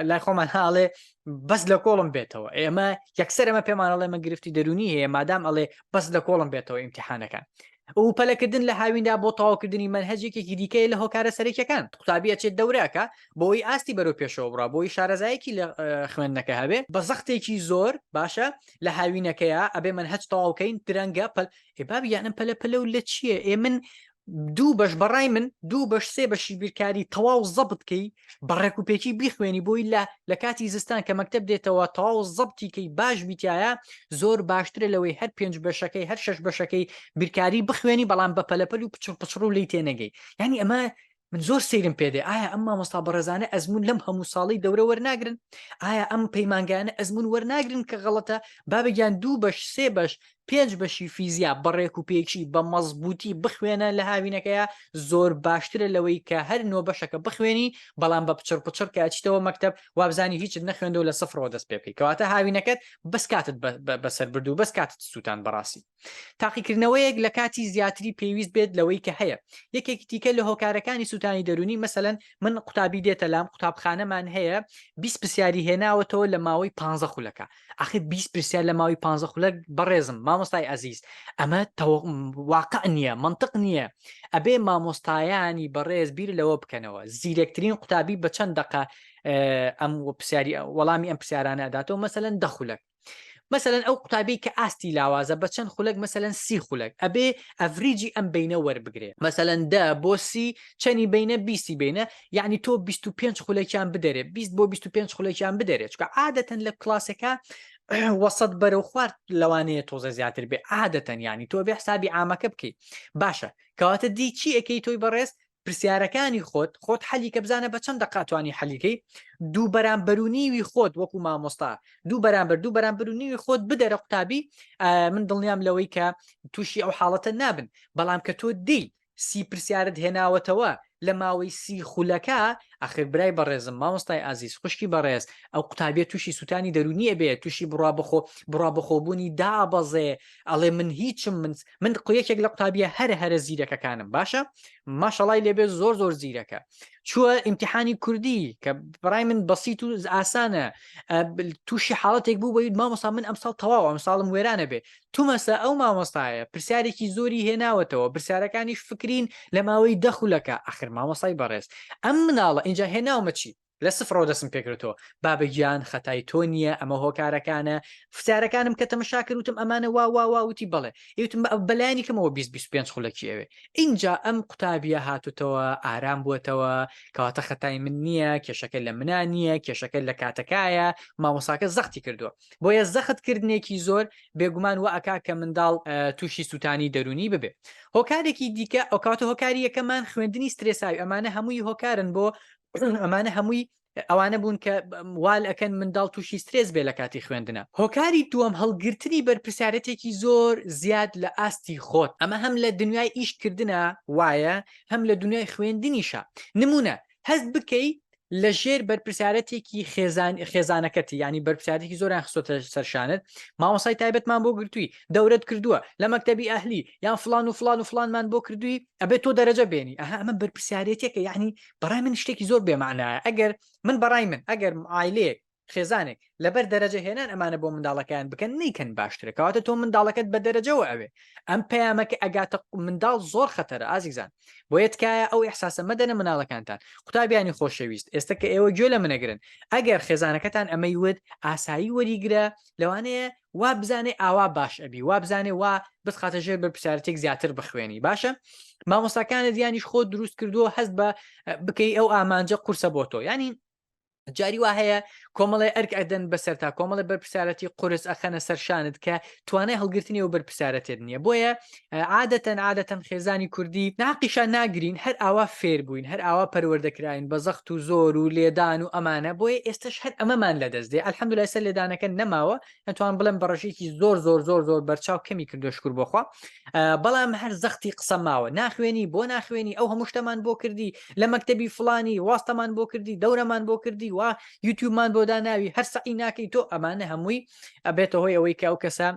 S1: لای خۆمان هاڵێ بەس لە کۆڵم بێتەوە ئێمە یەکسەر ئەمە پێمانەڵێ مە گرفتی دەرونی هەیە مادام ئەڵێ بەس لە کۆڵم بێتەوە ئیمتحانەکان ئەو پەلەکردن لە هاویندا بۆ تەواوکردنی منهجێکێکی دیکەی لە هۆکارە سەرەکیەکان قوتابیە چێت دەوراکە بۆی ئاستی بەرەو پێشەوە بڕا بۆی شارەزایەکی لە خوێندنەکە هەبێ بە زەختێکی زۆر باشە لە هاوینەکەیە ئەبێ من هەچ تەواوکەین درەنگە پەل ئێ بابی یانم پەلە پەلە و لە چییە ئێ من دوو بەش بەڕای من دوو بەش سێ بەشی بیرکاری تەواو زەبتکەی بەڕێک و پێکی بیخوێنی بۆی لە لە کاتی زستان کە مەکتب دێتەوە تەواو زەبتیکەی باش بیتایە زۆر باشترە لەوەی هەر پێنج بەشەکەی هەر شش بەشەکەی بیرکاری بخوێنی بەڵام بە پەلەپەل و پچڕ پچڕ و لی تێنەگەی ینی ئەمە من زۆر سیرم پێدێ ئایا ئەم مامۆستا بەڕێزانە ئەزمون لەم هەموو ساڵی دەورە وەرناگرن ئایا ئەم پەیمانگانە ئەزمون وەرناگرن کە غەڵەتە بابگیان دوو بەش سێ بەش پێنج بەشی فیزیا بەڕێک و پێکی بە مەزبوتی بخوێنە لە هاوینەکەیە زۆر باشترە لەوەی کە هەر نۆ بەشەکە بخوێنی بەڵام بە پچڕ پچڕ کە ئەچیتەوە مەکتب وابزانانی هیچ نەخوێندەوە لە سفرەوە دەست پێ بکەی کەواتە هاوینەکەت بەس کاتت بەسەر بردو بەس کاتت سووتان بەڕاستی تاقیکردنەوەیەک لە کاتی زیاتری پێویست بێت لەوەی کە هەیە یەکێکی تیکە لە هۆکارەکانی سووتانی دەرونی مەسەەن من قوتابی دێتە لام قوتابخانەمان هەیە 20 پرسیاری هێناوەتەوە لە ماوەی 15 خولەکە ئاخر 20 پرسیار لە ماوەی 15 خولەک بەڕێزم مامۆستای ئازیز ئەمە واقع نییە منطق نییە ئەبێ مامۆستایانی بەڕێز بیر لەوە بکەنەوە زیرەکترین قوتابی بە چەند دقە ئەم پرسیاری وەڵامی ئەم پرسیارانە ئەداتەوە مەسەەن دەخولەک مەسەلەن ئەو قوتابی کە ئاستی لاوازە بە چەند خولەک مەسەلەن سی خولەک ئەبێ ئەڤریجی ئەم بینە وەربگرێ مەسەلەن دە بۆ سی چەنی بینە بیستی بینە یعنی تۆ 25 خولەکیان بدەرێ 20 بۆ 25 خولەکیان بدەرێت چکە عادەتەن لە کلاسەکە وەسەد بەرە و خوارد لەوانەیە تۆزە زیاتر بێ عادەتەن ینی تۆ بێ حسابی ئامەکە بکەیت باشە کەواتە دی چی ئەەکەی تۆی بەڕێز پرسیارەکانی خۆت خۆت حەلی کە بزانە بە چەند دەقە توانی حەلیکەی دوو بەرامبەرونیوی خۆت وەکو مامۆستا دوو بەرامبەر دوو بەرامبەرونیوی خۆت بدەرە قوتابی من دڵنیام لەوەی کە تووشی ئەو حاڵەتە نابن بەڵام کە تۆ دی سی پرسیارت هێناوەتەوە لە ماوەی سی خولەکە ئەخر برای بەڕێزم مامۆستای ئازیز خوشکی بەڕێز ئەو قوتابێت تووشی سووتانی دەرونیە بێت تووشی بڕا بخۆ بڕا بخۆبوونی دابەزێ ئەڵێ من هیچم من من قویەکێک لە قوتابیە هەر هەرە زیرەکەکانم باشە ماشەڵای لێبێ زۆر زۆر زیرەکە چووە ئیمتحانی کوردی کە بڕای من بەسییت و ئاسانە تووشی حاڵەتێک بوو بەید مامۆسا من ئەمساڵ تەواو ئەم ساڵم وێرانە بێ تومەسە ئەو مامۆستایە پرسیارێکی زۆری هێناوەتەوە پرسیارەکانیش فکرین لە ماوەی دەخولەکە ئەخر مامۆسای بەڕێز ئەم مناڵە ئینجا هێناومە چی لە سفڕەوە دەسم پێکردەوە بابە گیان خەتای تۆ نییە ئەمە هۆکارەکانە فسارەکانم کە تەمەشا کردوتم ئەمانە وا وا وا وتی بڵێ یوتم بە ئەو بەلایانی کەمەوە 25 خولەکی ئەوێ ئینجا ئەم قوتابیە هاتوتەوە ئارام بووەتەوە کەواتە خەتای من نییە کێشەکە لە منا نییە کێشەکە لە کاتەکایە مامۆساکە زەختی کردووە بۆیە زەخت کردنێکی زۆر بێگومان و ئەکا کە منداڵ تووشی سووتانی دەرونی ببێ هۆکارێکی دیکە ئەو کاتە هۆکاری یەکەمان خوێندنی سترێساوی ئەمانە هەمووی هۆکارن بۆ ئەمانە هەمووی ئەوانە بوون کە وال ئەەکەن منداڵ تووشی سترێز بێ لە کاتی خوێندنە هۆکاری دووەم هەڵگرتنی بەرپسیارەتێکی زۆر زیاد لە ئاستی خۆت ئەمە هەم لە دنیای ئیشکردە وایە هەم لە دنیای خوێندنیشە نمونە هەست بکەی لە ژێر بەرپسیارەتێکی خێزان خێزانەکەتی ینی بەرپسیارێکی زۆران خسۆتە سەرشانت ماوەسای تایبەتمان بۆ گرتووی دەورت کردووە لە مەکتتەبی ئەهلی یان فلان و فلان و فلانمان بۆ کردووی ئەبێت تۆ دەرەجە بێنی ئەها ئەمە بەرپسیارەتێکە یعنی بەڕای من شتێکی زۆر بێمانایە ئەگەر من بەڕای من ئەگەر ئایلەیەک خێزانێک لەبەر دەرەجە هێنان ئەمانە بۆ منداڵەکەیان بکەن نیکەن باشترە کەواتە تۆ منداڵەکەت بە دەرەجەوە ئەوێ ئەم پەیامەکە ئەگاتە منداڵ زۆر خەتەرە ئازیزان بۆ یەتکایە ئەو احساسە مەدەنە مناڵەکانتان قوتابیانی خۆشەویست ئێستا کە ئێوە گوێ لە منەگرن ئەگەر خێزانەکەتان ئەمەی ود ئاسایی وەریگرە لەوانەیە وابزانێ ئاوا باش ئەبی وابزانێ وا بتخاتە ژێر بەرپسیارەتێک زیاتر بخوێنی باشە مامۆساکانە دیانیش خۆ دروست کردووە هەست بە بکەی ئەو ئامانجە قورسە بۆ تۆ ینی جاری وا هەیە کۆمەڵی ئەرک ئەدەن بەسەر تا کۆمەڵی بەرپسیارەتی قرس ئەخەنە سەرشانت کە توانای هەڵگرتنی و بەرپسیارەتێت نییە بۆیە عادەتەن عادەتەن خێزانی کوردی ناقیشان ناگرین هەر ئاوا فێر بووین هەر ئاوا پەروەردە کراین بە زەخت و زۆر و لێدان و ئەمانە بۆیە ئێستش هەر ئەمەمان لە دەست دێ الحمدللە ئێستا لێدانەکە نەماوە ئەتوان بڵێم بە ڕێژەیەکی زۆر زۆر زۆر زۆر بەرچاو کەمی کردو شکر بۆخوا بەڵام هەر زەختی قسە ماوە ناخوێنی بۆ ناخوێنی ئەو هەموو شتەمان بۆ کردی لە مەکتەبی فلانی واستەمان بۆ کردی دەورەمان بۆ کردی وا یوتیوبمان بۆ داناوی هەر سەعی ناکەی تۆ ئەمانە هەمووی ئەبێتە هۆی ئەوەی کە ئەو کەسە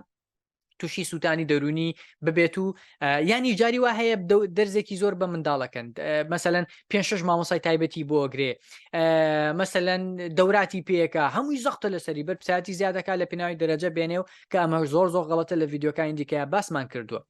S1: تووشی سووتانی دەرونی ببێت و ینی جاری وا هەیە دەرزێکی زۆر بە منداڵەکەن مەسەەن پێ شش مامۆسای تایبەتی بۆ گرێ مەسەەن دەوراتی پێەکە هەمووی زەختە لەسەری بەر پساتی زیادەکە لە پێناوی دەرەجە بێنێ و کە ئەمە زۆر زۆر غڵەتە لە یددیوکانی دیکە باسمان کردووە.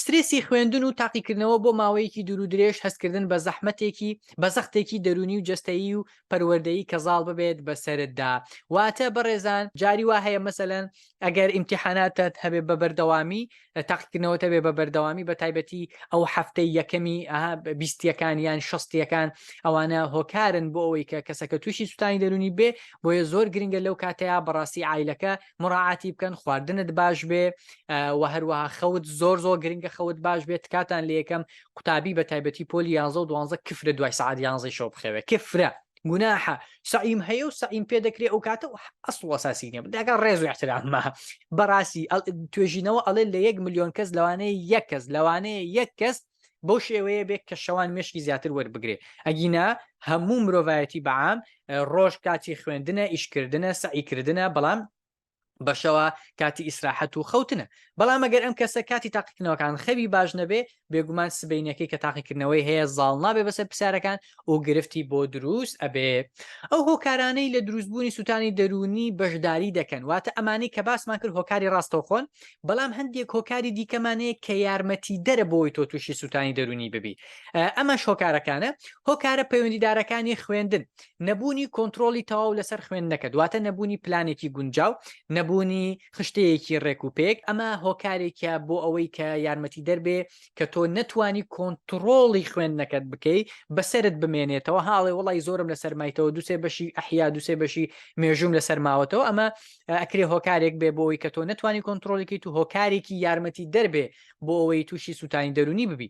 S1: سترێسی خوێندن و تاقیکردنەوە بۆ ماوەیەکی دوور و درێژ هەستکردن بە زەحمەتێکی بە زەختێکی دەرونی و جستەیی و پەروەردەیی کە زاڵ ببێت بە سەرتدا واتە بەڕێزان جاری وا هەیە مەسەلەن ئەگەر ئیمتیحاناتت هەبێ بە بەردەوامی تاقیکردنەوەتە بێ بە بەردەوامی بە تایبەتی ئەو هەفتەی یەکەمی بیستیەکان یان شستیەکان ئەوانە هۆکارن بۆ ئەوەی کە کەسەکە تووشی سووتانی دەرونی بێ بۆیە زۆر گرنگە لەو کاتەیە بەڕاستی ئایلەکە مراعاتی بکەن خواردنت باش بێ و هەروەها خەوت زۆر زۆر گرنگە خەوت باش بێت کاتان لە یەکەم قوتابی بە تایبەتی پۆلی یانزە و دوانزە کفرە دوای سعات یانزەی شەو بخەوێ کفرە گوناحە سعیم هەیە و سعیم پێ دەکرێت ئەو کاتە ئەسڵ وەساسی نیە داگە ڕێز و احتراممە بەڕاستی توێژینەوە ئەڵێ لە یەک میلیۆن کەس لەوانەیە یەک کەس لەوانەیە یەک کەس بەو شێوەیە بێت کە شەوان مشکی زیاتر وەربگرێ ئەگینا هەموو مرۆڤایەتی بەعام ڕۆژ کاتی خوێندنە ئیشکردنە سعیکردە بەڵام بەشەوە کاتی ئیسراحەت و خەوتنە بەڵام ئەگەر ئەم کەسە کاتی تاقیکردنەوەکان خەوی باش نەبێ بێگومان سبینەکەی کە تاقیکردنەوەی هەیە زاڵ نابێ بەسەر پرسیارەکان و گرفتی بۆ دروست ئەبێ ئەو هۆکارانەی لە دروستبوونی سووتانی دەروونی بەشداری دەکەن واتە ئەمانەی کە باسمان کرد هۆکاری ڕاستەوخۆن بەڵام هەندێک هۆکاری دیکەمانەیە کە یارمەتی دەرە بۆی تۆ تووشی سووتانی دەروونی ببی ئەمەش هۆکارەکانە هۆکارە پەیوەندیدارەکانی خوێندن نەبوونی کۆنتترۆلی تەواو لەسەر خوێندنەکە دواتە نەبوونی پلانێکی گونجاو نەبوونی خشتەیەکی ڕێک و پێک ئەمە هۆکارێکە بۆ ئەوەی کە یارمەتی دەربێ کە تۆ نەتوانی کۆنتترۆڵی خوێندنەکەت بکەی بەسرت بمێنێتەوە هاڵێ وڵی زۆرم لە سەرمایتەوە دوسێ بەشی ئەحیا دوسێ بەشی مێژوم لە سەرماوەتەوە ئەمە ئەکرێ هۆکارێک بێ بۆەوەی کە تۆ نتوانانی کۆنتترۆلێکی تو هۆکارێکی یارمەتی دەربێ بۆ ئەوەی تووشی سووتانی دەرونی ببی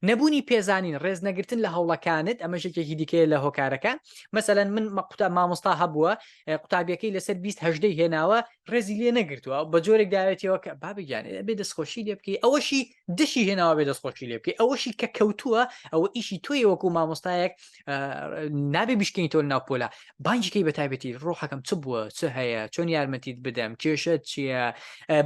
S1: نەبوونی پێزانین ڕێز نەگرتن لە هەوڵەکانت ئەمە ژێکێکی دیکەیە لە هۆکارەکە مەسەەن من مەقوتا مامۆستا هەبووە قوتابیەکەی لەسەر 20 هەدەی هێناوە ڕێزی لێ نەگرتووە بە جۆرێک داوێتەوە کە بابگیان بێ دەستخۆشی لێ بکەی ئەوەشی دشی هێناوە بێ دەست خۆشی لێ بکەی ئەوەشی کە کەوتووە ئەوە ئیشی تۆی وەکو مامۆستایەک نابێ بیشکەین تۆ ناپۆلا بانجیکەی بە تایبەتی ڕۆحەکەم چ بووە چ هەیە چۆن یارمەتیت بدەم کێشە چییە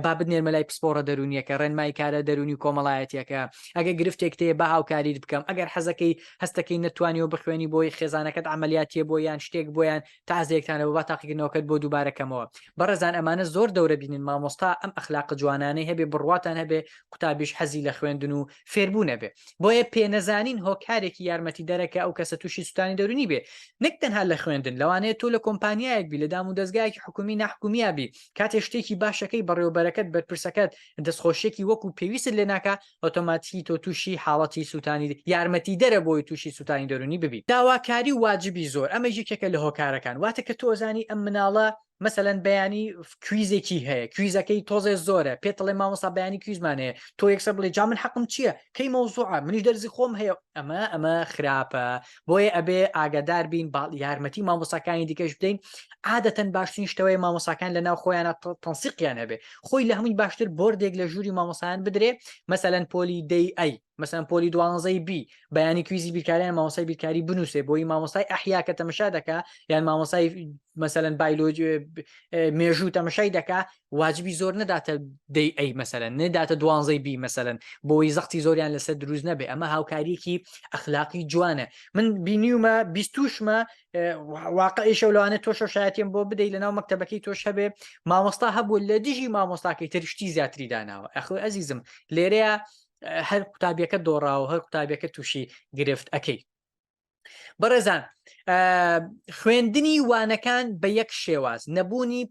S1: بابت نێرمەلای پسپۆڕە دەرونیەکە ڕێنمای کارە دەرونی و کۆمەڵایەتەکە ئەگە گرفتێک تێ بە هاوکاریت بکەم ئەگەر حەزەکەی هەستەکەی نتوانانی و بخوێنی بۆی خێزانەکەت عملیاتیە بۆ یان شتێک بۆیان تا زێکتانە بۆ با تاقیکردنەوەکەت بۆ دووبارەکەمەوە بەڕێزان ئەمانە زۆر دەورە بینن مامۆستا ئەم ئەخلاق جوانانەی هەبێ بڕواتان هەبێ قوتابیش حەزی لە خوێندن و فێربوونە بێ بۆیە پێ نەزانین هۆکارێکی یارمەتی دەرەکە ئەو کەسە تووشی سووتانی دەرونی بێ نەک تەنها لە خوێندن لەوانەیە تۆ لە کۆمپانیایەک بی لە دام و دەستگایەکی حکومی نحکومیابی کاتێ شتێکی باشەکەی بەڕێوبەرەکەت بەرپرسەکەت دەستخۆشیەکی وەکو پێویست لێناکە ئۆتۆماتیکی تۆ تووشی حاڵەتی سووتانی یارمەتیدەرە بۆی تووشی سووتانی دەروونی ببیت داواکاری واجبی زۆر ئەمەش یەکێکە لە هۆکارەکان واتە کە تۆ ئەزانی ئەم مناڵە مەسەلەن بەیانی کویزێکی هەیە کویزەکەی تۆزێ زۆرە پێت دەڵێ مامۆستا بەیانی کویزمان هەیە تۆ یەکسەر بڵێ جا من حەقم چییە کەی مەوزوعە منیش دەرزی خۆم هەیە ئەمە ئەمە خراپە بۆیە ئەبێ ئاگادار بین با یارمەتی مامۆساکانی دیکەش بدەین عادەتەن باشترین شتەوەی مامۆساکان لە ناو خۆیانە تەنسیقیان هەبێ خۆی لە هەمووی باشتر بردێک لە ژووری مامۆسایان بدرێ مەسەەن پۆلی دەی ئەی مەسەن پۆلی دوانزەی بی بەیانی کویزی بیرکاریان مامۆسای بیرکاری بنووسێ بۆی مامۆسای ئەحیا کە تەمەشا دەکا یان مامۆسای مەسەن بایلۆجی مێژوو تەمەشای دەکا واجبی زۆر نەداتە دەی ئەی مەسەن نەداتە دوانزەی بی مەسەن بۆی زەختی زۆریان لەسەر دروست نەبێ ئەمە هاوکاریکی ئەخلاقی جوانە من بینیومە بیستوشمە واقعیشە لەوانە تۆشە شایەتیم بۆ بدەی لە ناو مەکتتەبەکەی تۆش هەبێ مامۆستا هەبوو لە دژی مامۆستاکەی ترشتی زیاتری داناوە ئەخۆ ئەزیزم لێرەیە هەر قوتابیەکە دۆڕاوە هەر قوتابیەکە تووشی گرفت ئەەکەی بەڕێزان خوێندنی وانەکان بە یەک شێواز نەبوونی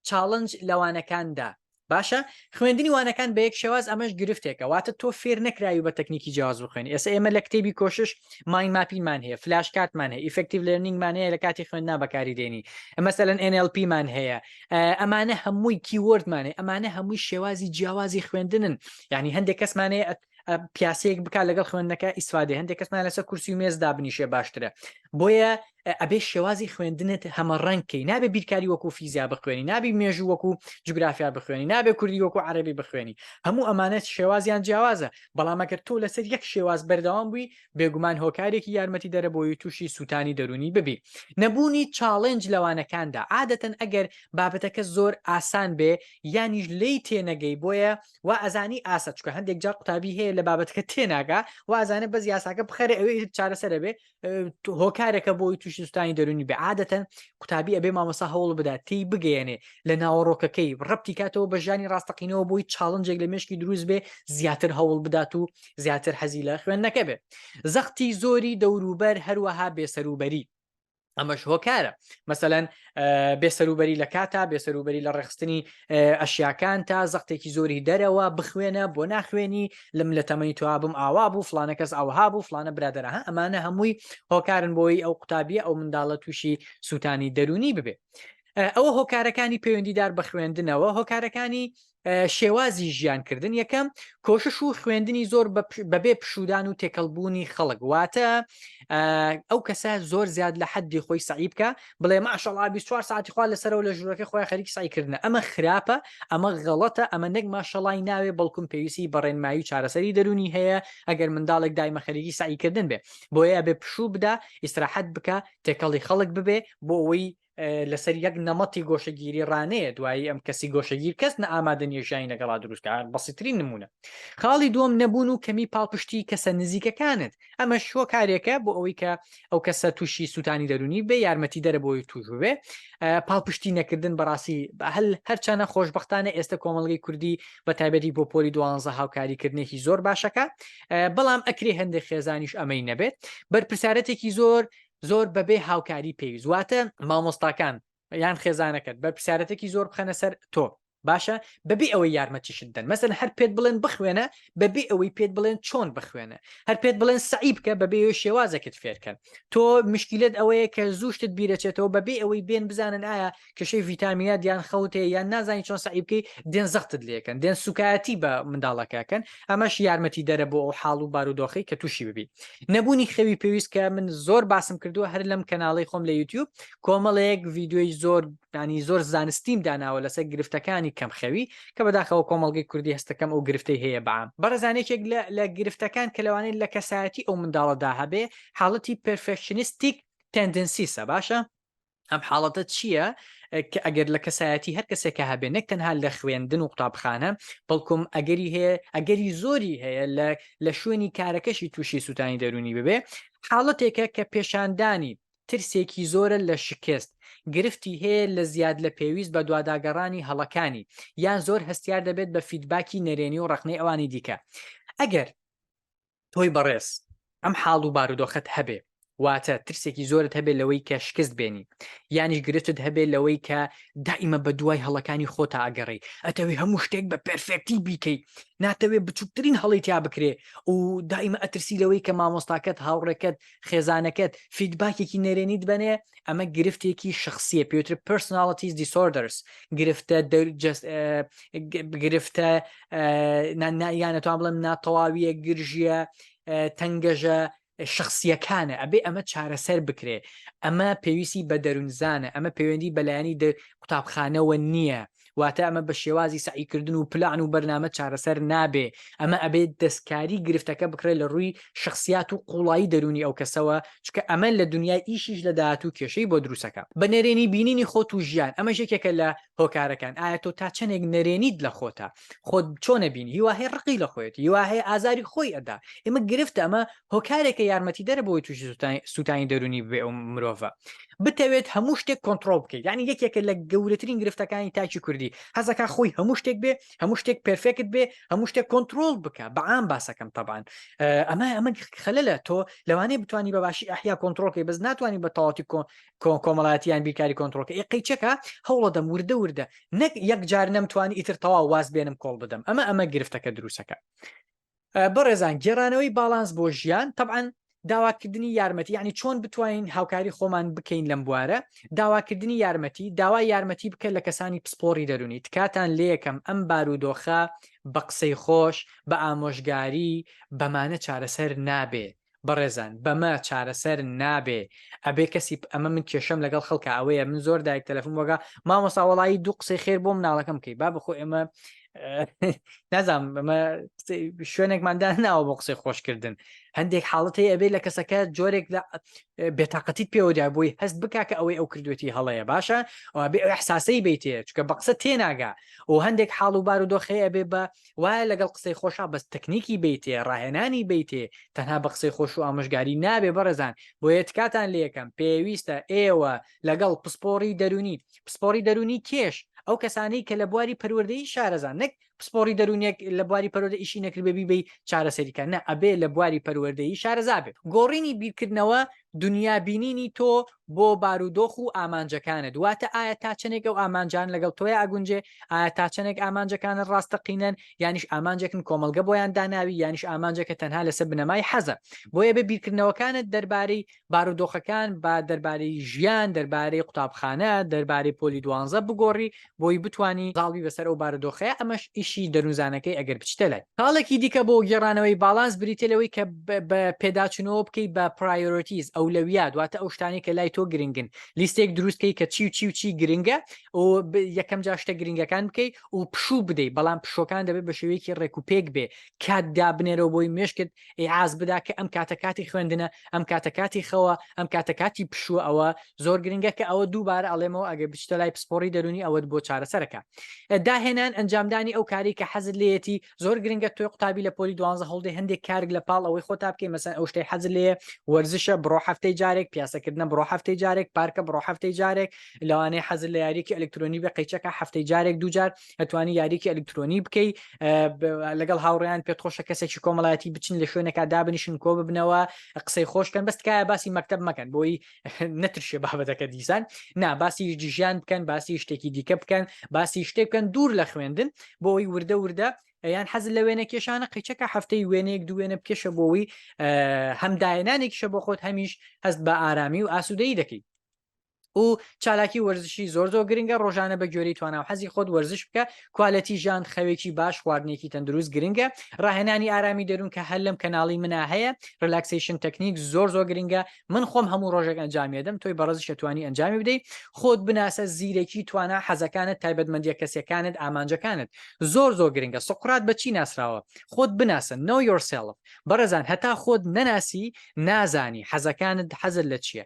S1: چاڵنج لەوانەکاندا باشە خوێندنی وانەکان بە یەک شێواز ئەمەش گرفتێکە واتە تۆ فێر نەکراوی بە تەکنیکی جیاز بخوێن ئێستا ئێمە لە کتێبی کۆشش مای ماپیمان هەیە فلاش کاتمان هەیە ئیفکتیو لەرنینگمان هەیە لە کاتی خوێندنا بەکاری دێنی ئەمەسەلەن NLPمان هەیە ئەمانە هەمووی کیوردمانێ ئەمانە هەمووی شێوازی جیاوازی خوێندنن ینی هەندێک کەسمانەیە پیاسەیەک بک لەگەڵ خوێندنەکە ئیسفادێ هەندێک کەسمان لەسەر کورسی و مێز دابنیشێ باشترە بۆیە ئەبێ شێوازی خوێندنت هەمە ڕەنکەی نابێ بیرکاری وەکو فیزیا بخوێنی نابی مێژوو وەکو جوگرافیا بخوێنی نابێ کوردی وەکو عربی بخوێنی هەموو ئەمانەت شێوازیان جیاوازە بەڵامەکرد تۆ لەسەر یەک شێواز بەردەوام بووی بێگومان هۆکارێکی یارمەتی دەرەبەوەی تووشی سووتانی دەرونی ببی نەبوونی چاڵنج لەوانەکاندا عادەتەن ئەگەر بابەتەکە زۆر ئاسان بێ یانیش لی تێنەگەی بۆیە وا ئەزانی ئاسە چکە هەندێک جار قوتابی هەیە لە بابەتەکە تێناگا وازانە بەس یاساکە بخەرە ئەوێ چارەسەرە بێ هۆکارێکە بۆی تووشی سوستانی دەرونی بێ عادەتەن قوتابی ئەبێ مامەسا هەوڵ بدات تی بگەیەنێ لە ناوەڕۆکەکەی ڕپتی کاتەوە بە ژانی ڕاستەقینەوە بۆی چاڵنجێک لە مشکی دروست بێ زیاتر هەوڵ بدات و زیاتر حەزی لە خوێندنەکە بێ زەختی زۆری دەوروبەر هەروەها بێسەروبەری ئەمەش هۆکارە مەسەەن بێسەروبەری لە کاتا بێسەروبەری لە ڕێخستنی ئەشیاکان تا زەختێکی زۆری دەرەوە بخوێنە بۆ ناخوێنی لەم لە تەمەنی توابم ئاوا بوو فلانە کەس ئاوها بوو فلانە برادرە ها ئەمانە هەمووی هۆکارن بۆی ئەو قوتابیە ئەو منداڵە تووشی سووتانی دەرونی ببێ ئەوە هۆکارەکانی پەیوەندیدار بە خوێندنەوە هۆکارەکانی شێوازی ژیان کردن یەکەم کۆشش و خوێندنی زۆر بەبێ پشودان و تێکەڵبوونی خەڵک واتە ئەو کەسە زۆر زیاد لە حەدی خۆی سعی بکە بڵێ ماشەڵا 24 ساعتی خوا لەسەرەوە لە ژوورەکە خۆی خەریک سعیکردن ئەمە خراپە ئەمە غەڵەتە ئەمە نەک ماشەڵای ناوێ بەڵکم پێویستی بەڕێنمایی و چارەسەری دەرونی هەیە ئەگەر منداڵێک دایمە خەریکی سعیکردن بێ بۆیە بێ پشوو بدا ئیسراحەت بکە تێکەڵی خەڵک ببێ بۆ ئەوەی لەسەر یەک نەمەتی گۆشەگیری ڕانەیە دوایی ئەم کەسی گۆشەگیر کەس نە ئامادە نیێژانی لەگەڵا دروستکە بەسیترین نمونە خاڵی دوم نەبوون و کەمی پاڵپشتی کەسە نزیکەکانت ئەمە شوە کارێکە بۆ ئەوەی کە ئەو کەسە تووشی سووتانی دەرونی بێ یارمەتی دەرە بۆی توشبێ پاڵپشتی نەکردن بەڕاستی هەل هەرچەنە خۆشببختانە ئێستا کۆمەلگەی کوردی بە تایبەتی بۆ پۆلی دوانزە هاوکاریکردنێکی زۆر باشەکە بەڵام ئەکری هەندێک خێزانیش ئەمەی نەبێت بەرپسارەتێکی زۆر زۆر بەبێ هاوکاری پێویست واتە مامۆستاکان یان خێزانەکەت بەرپسیارەتێکی زۆر بخەنە سەر تۆ باشە بەبێ ئەوەی یارمەتیشت دەن مەسن هەر پێت بڵێن بخوێنە بەبێ ئەوەی پێت بڵێن چۆن بخوێنە هەر پێت بڵێن سعی بکە بەبێ شێوازەکەت فێرکەن تۆ مشکلت ئەوەیە کە زوشتت بیرەچێتەوە بەبێ ئەوەی بێن بزانن ئایا کێشەی ڤیتامینات یان خەوت هەیە یان نازانی چۆن سەعی بکەی دێن زەختت لێکەن دێن سوکایەتی بە منداڵەکەکەن ئەمەش یارمەتی دەرە بۆ ئەو حاڵ و بارودۆخی کە تووشی ببی نەبوونی خەوی پێویست کە من زۆر باسم کردووە هەر لەم کەناڵی خۆم لە یوتیوب کۆمەڵەیەک ڤیددیوی زۆر دانی زۆر زانستیم داناوە لەسەر گرفتەکانی کەم خەوی کە بەداخەوە کۆمەلگەی کوردی هەستەکەم ئەو گرفتەی هەیە بەام بەڕزانێکێک لە گرفتەکان کە لەوانێت لە کەسایەتی ئەو منداڵەدا هەبێ حاڵەتی پرفێکشنستیک تەندنسیسە باشە ئەم حاڵەتە چییە کە ئەگەر لە کەسایەتی هەر کەسێکە هەبێ نەک تەنها لە خوێندن و قوتابخانە بەڵکم ئەگەری هەیە ئەگەری زۆری هەیە لە لە شوێنی کارەکەشی تووشی سووتانی دەرونی ببێ حاڵەتێکە کە پێشاندانی ترسێکی زۆرە لە شکست گرفتی هەیە لە زیاد لە پێویست بە دواداگەڕانی هەڵەکانی یان زۆر هەستیار دەبێت بە فیدباکی نەرێنی و ڕخنەی ئەوانی دیکە ئەگەر تۆی بەڕێز ئەم حاڵ و بارودۆخەت هەبێ واتە ترسێکی زۆرت هەبێت لەوەی کە شکست بێنی یانیش گرتت هەبێت لەوەی کە دائیمە بە دوای هەڵەکانی خۆتا ئەگەڕی ئەتەوی هەموو شتێک بە پرفێکتی بیکەی ناتەوێت بچووکترین هەڵی تیا بکرێ و دائیمە ئەترسی لەوەی کە مامۆستاکەت هاوڕێکەت خێزانەکەت فیدباکێکی نەرێنیت بەنێ ئەمە گرفتێکی شخصیە پێوتر پرسناڵتیز دیسۆردەرس گرفتە گرفتە یانەتوان بڵم ناتەواویە گرژیە تەنگەژە شخصیەکانە ئەبێ ئەمە چارەسەر بکرێ ئەمە پێویستی بە دەروونزانە ئەمە پەیوەندی بەلایانی قوتابخانەوە نییە واتە ئەمە بە شێوازی سەعیکردن و پلان و بەرنامە چارەسەر نابێ ئەمە ئەبێت دەستکاری گرفتەکە بکرێت لە ڕووی شخصیات و قوڵایی دەرونی ئەو کەسەوە چکە ئەمە لە دنیای ئیشیش لە داهاتوو کێشەی بۆ دروسەکە بە نەرێنی بینینی خۆت و ژیان ئەمە ژێکێکە لە هۆکارەکان ئایا تۆ تا چەندێک نەرێنیت لە خۆتە خۆت چۆنە بینی هیواهەیە ڕقی لە خۆێت هیواهەیە ئازاری خۆی ئەدا ئمە گرفتە ئەمە هۆکارێکە یارمەتیدەرە بۆی تووشی سووتانی دەرونی بێ ئەو مرۆڤە بتەوێت هەموو شتێک کۆنتترۆل بکەیت ینی یەکێکە لە گەورەترین گرفتەکانی تاکی کوردی حەزەکە خۆی هەموو شتێک بێ هەموو شتێک پرفێکت بێ هەموو شتێک کۆنتترۆل بکە بەعام باسەکەم تەبان ئەمە ئەمە خەلە لە تۆ لەوانەیە بتانی بە باشی ئەحیا کۆنتترۆلکەی بەس ناتوانانی بە تەواتی کۆمەڵاتیان بیرکاری کۆنتترۆلکە ی قەیچەکە هەوڵە دەم وردە وردە نەک یەک جار نەمتوانی ئیتر تەوا واز بێنم کۆڵ بدەم ئەمە ئەمە گرفتەکە دروستەکە بەڕێزان گێڕانەوەی باڵانس بۆ ژیان تەعاان داواکردنی یارمەتی یعنی چۆن بتوانین هاوکاری خۆمان بکەین لەم بوارە داواکردنی یارمەتی داوا یارمەتی بکە لە کەسانی پسپۆری دەرونی تکاتان لەکەم ئەم بارودۆخە بە قسەی خۆش بە ئامۆژگاری بەمانە چارەسەر نابێت بەڕێزان بەمە چارەسەر نابێ ئەبێ کەسی ئەمە من کێشەم لەگەڵ خەڵکە ئەوەیە من زۆر دایک تەلەفون وەگە مامۆسا وەڵایی دوو قسەی خێر بۆ مناڵەکەم بکەی با بخۆ ئێمە نازام ئەمە شوێنێکماندا ناوە بۆ قسەی خۆشکردن هەندێک حاڵەت هەیە ئەبێ لە کەسەکە جۆرێک لە بێتاقەتیت پێوەدا بۆی هەست بک کە ئەوەی ئەو کردوێتی هەڵەیە باشە ئەوێ ئەو حساسەی بیتێ چکە بە قسە تێناگا و هەندێک حاڵ و بار و دۆخەیە بێ بە وایە لەگەڵ قسەی خۆشا بەس تەکنیکی بیتێ ڕاهێنانی بیتێ تەنها بە قسەی خۆش و ئامۆژگاری نابێ بەڕێزان بۆیە تکاتان لێکەم پێویستە ئێوە لەگەڵ پسپۆڕی دەرونی پسپۆڕی دەرونی کێش ئەو کەسانەی کە لە بواری پەروەردەی شارەزان نەک پسپۆڕی دەرونێک لە بواری پەروەردە ئیشی نەکرد بێبی بی چارەسەریکە نە ئەبێ لە بواری پەروەردەی شارەزا بێت گۆڕینی بیرکردنەوە دنیا بینینی تۆ بۆ بارودۆخ و ئامانجەکانت واتە ئایا تا چەندێک ئەو ئامانجان لەگەڵ تۆی ئاگونجێ ئایا تا چەندێک ئامانجەکانە ڕاستەقینەن یانیش ئامانجێکن کۆمەلگە بۆیان داناوی یانیش ئامانجێکە تەنها لەسە بنەمای حەزە بۆیە بە بیرکردنەوەکانت دەربارەی بارودۆخەکان با دەربارەی ژیان دەربارەی قوتابخانە دەربارەی پۆلی دوانزە بگۆڕی بۆی بتوانی زاڵبی بەسەر ئەو بارودۆخەیە ئەمەش ئیشی دەروونزانەکەی ئەگەر بچیتە لای خاڵێکی دیکە بۆ گێڕانەوەی باڵانس بریتیە لەوەی کە بە پێداچونەوە بکەی بە پرایۆرۆتیز ئەولەویات واتە ئەو شتانەی کە لای تۆ گرنگن لیستێک دروست کەی کە چی و چی و چی گرنگە و یەکەم جا شتە گرنگەکان بکەی و پشوو بدەی بەڵام پشوەکان دەبێت بە شێوەیەکی ڕێکوپێک بێ کات دابنێرەوە بۆی مێشکت ئیعاز بدا کە ئەم کاتە کاتی خوێندنە ئەم کاتە کاتی خەوە ئەم کاتە کاتی پشووە ئەوە زۆر گرنگە کە ئەوە دووبارە ئەڵێمەوە ئەگەر بچتە لای پسپۆڕی دەرونی ئەوەت بۆ چارەسەرەکە داهێنان ئەنجامدانی ئەو کاری کە حەزت لێتی زۆر گرنگە توی قوتابی لە پۆلی دوانزە هەڵدێ هەندێک کارگ لە پاڵ ئەوەی خۆتا بکەی مەسەن ئەو شتەی حەز لێ وەرزشە بڕۆ هەفتەی جارێک پیاسەکردنە بڕۆ هەفتەی جارێک پارکە بڕۆ هەفتەی جارێک لەوانەیە حەز لە یاریکی ئەلکترۆنی بە قەیچەکە هەفتەی جارێک دوجار ئەتوانی یاریکی ئەلکترۆنی بکەی لەگەڵ هاوڕیان پێت خۆشە کەسێکی کۆمەڵایەتی بچن لە شوێنەکە دابنیشن کۆ ببنەوە قسەی خۆشکەن بەستکایە باسی مەکتب مەکەن بۆی نەترشێ بابەتەکە دیسان نا باسی ژیان بکەن باسی شتێکی دیکە بکەن باسی شتێک بکەن دوور لە خوێندن بۆی وردە وردە یان حەز لە وێنە کێشانە قیچەکە هەفتەی وێنەیەک دوێنە بکێشە بۆەوەی هەمداەنانێکیشە بۆ خۆت هەمیش هەست بە ئارامی و ئاسوودەی دەکەیت و چالاکی وەرزشی زۆر زۆر گرنگە ڕۆژانە بە گوێری توانا و حەزی خۆت وەرزش بکە کوالەتی ژان خەوێکی باش خواردنێکی تەندروست گرنگە ڕاهێنانی ئارامی دەروون کە هەر لەم کەناڵی منا هەیە ڕلاکسیشن تەکنیک زۆر زۆر گرنگە من خۆم هەموو ڕۆژێک ئەنجامێدەم تۆی بەڕزش توانی ئەنجامی بدەیت خۆت بناسە زیرەکی توانا حەزەکانت تایبەتمەندیە کەسەکانت ئامانجەکانت زۆر زۆر گرنگە سقرات بەچی ناسراوە خۆت بناسە نۆ یۆرسلف بەڕێزان هەتا خۆت نەناسی نازانی حەزەکانت حەزر لە چییە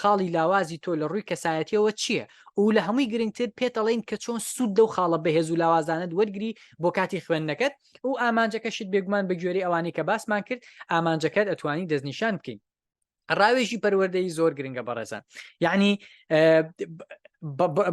S1: خاڵی لاوازی تۆ لە ڕووی کەسایەتیەوە چیە؟ و لە هەمووی گرنگتر پێت ئەڵێین کە چۆن سوود لەو خاڵە بەهێز و لاوازانەت وەرگری بۆ کاتی خوێندنەکەت و ئامانجەکەشت بێگومان بە گوێرەی ئەوانەی کە باسمان کرد ئامانجەکەت ئەتوانی دەستنیشان بکەی ڕاوێژی پەروەردەی زۆر گرنگە بەڕێزان یعنی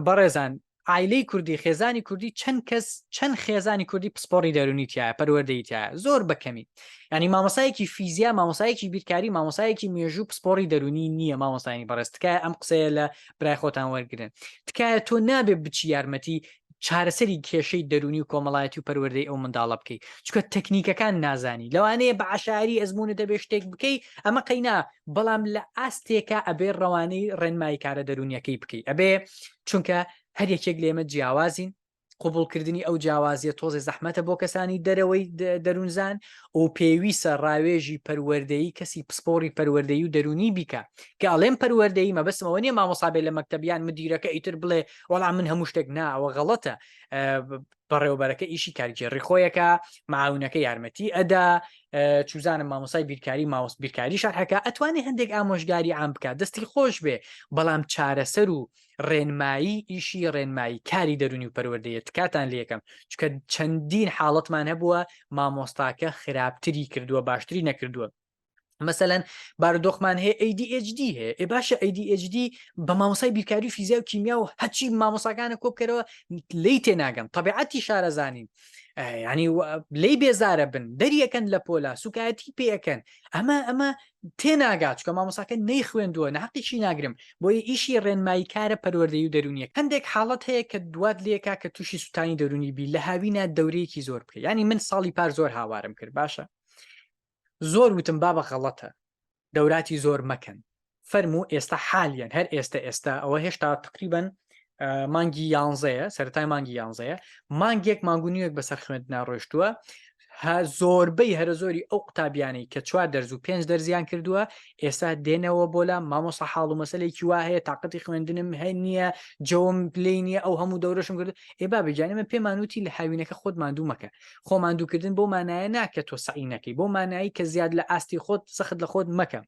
S1: بەڕێزان عایلەی کوردی خێزانی کوردی چەند کەس چەند خێزانی کوردی پسپۆڕی دەرونی تایە پەروەردەی تایە زۆر بەکەمی ینی مامۆسایەکی فیزیا مامۆسایەکی بیرکاری مامۆسایەکی مێژوو پسپۆری دەرونی نییە مامۆستانی بەڕێز تکایە ئەم قسەیە لە برای خۆتان وەرگن تکایە تۆ نابێ بچی یارمەتی چارەسەری کێشەی دەرونی و کۆمەڵایەتی و پەروەردەی ئەو منداڵە بکەیت چکە تەکنیکەکان نازانی لەوانەیە بە عشاری ئەزمونە دەبێ شتێک بکەی ئەمە قەینا بەڵام لە ئاستێکە ئەبێ ڕەوانەی ڕێنمایی کارە دەرونیەکەی بکەی ئەبێ چونکە هەر یەکێک لێمە جیاوازین قوبولکردنی ئەو جیاوازیە تۆزێ زەحمەتە بۆ کەسانی دەرەوەی دەروونزان و پێویستە ڕاوێژی پەروەردەی کەسی پسپۆری پەروەردەی و دەرونی بیکە کە ئەڵێم پەروەردەی مەبەسمەوە نیە مامۆسابێت لە مەکتتەبیان مدیرەکە ئیتر بڵێ وەڵام من هەموو شتێک ناوە غەڵەتە بەڕێوەبەرەکە ئیشی کارگێڕی خۆیەکە معاونەکە یارمەتی ئەدا چوزانم مامۆسای بیرکاری ماوەست بیرکاری شەرحەکە ئەتوانێت هەندێک ئامۆژگاری ئام بکات دەستی خۆش بێ بەڵام چارەسەر و ڕێنمایی ئیشی ڕێنمایی کاری دەرونی و پەروەردەیە تکاتان لەکەم چکە چەندین حاڵەتمان هەبووە مامۆستاکە خراپتری کردووە باشتری نەکردووە مەسەەن بارودۆخمان هەیە ADHD هەیە ئێ باشە ADHD بە مامۆسای بیرکاری و فیزیا و کیمیا و هەچی مامۆساکانە کۆبکەرەوە لی تێناگەم طببیعەتی شارەزانین ینی لی بێزارە بن دەریەکەن لە پۆلا سوکایەتی پێەکەن ئەمە ئەمە تێناگات چکە مامۆساکە نەی خوێندووە ناقیشی ناگرم بۆی ئیشی ڕێنمایی کارە پەروەردەی و دەرونیە هەندێک حاڵت هەیە کە دوات لێکا کە تووشی سووتانی دەرونی بی لە هاوینە دەورەیەکی زۆر بکە ینی من ساڵی پار زۆر هاوارم کرد باشە زۆر وتم بابە غەڵەتە دەوراتی زۆر مەکەن فەرموو ئێستا حالیان هەر ئێستا ئێستا ئەوە هێشتا تقریبن مانگی یانزەیە سەرای مانگی یانزەیە مانگێک ماگونیەک بەسەر خوێند ناڕۆشتووە هە زۆربەی هەرە زۆری ئەو قوتابیانەی کە چوار دەرز و پێنج دەرزیان کردووە ئێستا دێنەوە بۆ لە مامۆسا حاڵ و مەسلێکی وا هەیە تااقەتی خوێندنم هەیە نییە جەوم پلی نییە ئەو هەموو دەورەشم کرد ئێ با بگیانە من پێمانوتی لە هاوینەکە خۆت مادوو مەکە خۆ ماندووکردن بۆ مانایە نا کە تۆ سەعی نەکەی بۆ مانایی کە زیاد لە ئاستی خۆت سەخت لە خۆت مەکە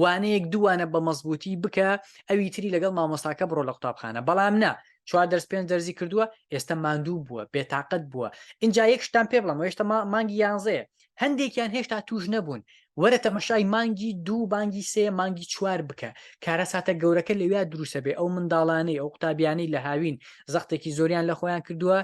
S1: وانەیەک دووانە بە مەزبوتی بکە ئەوی تری لەگەڵ مامۆستاکە بڕۆ لە قوتابخانە بەڵام نا چوار دەرس پێنج دەرزی کردووە ئێستا ماندوو بووە بێتاقەت بووە اینجا یەک شتان پێ بڵم هێشتا مانگی یانزەیە هەندێکیان هێشتا توش نەبوون وەرە تەمەشای مانگی دوو بانگی سێ مانگی چوار بکە کارە ساتە گەورەکە لەویا دروسە بێ ئەو منداڵانەی ئەو قوتابیانەی لە هاوین زەختێکی زۆریان لە خۆیان کردووە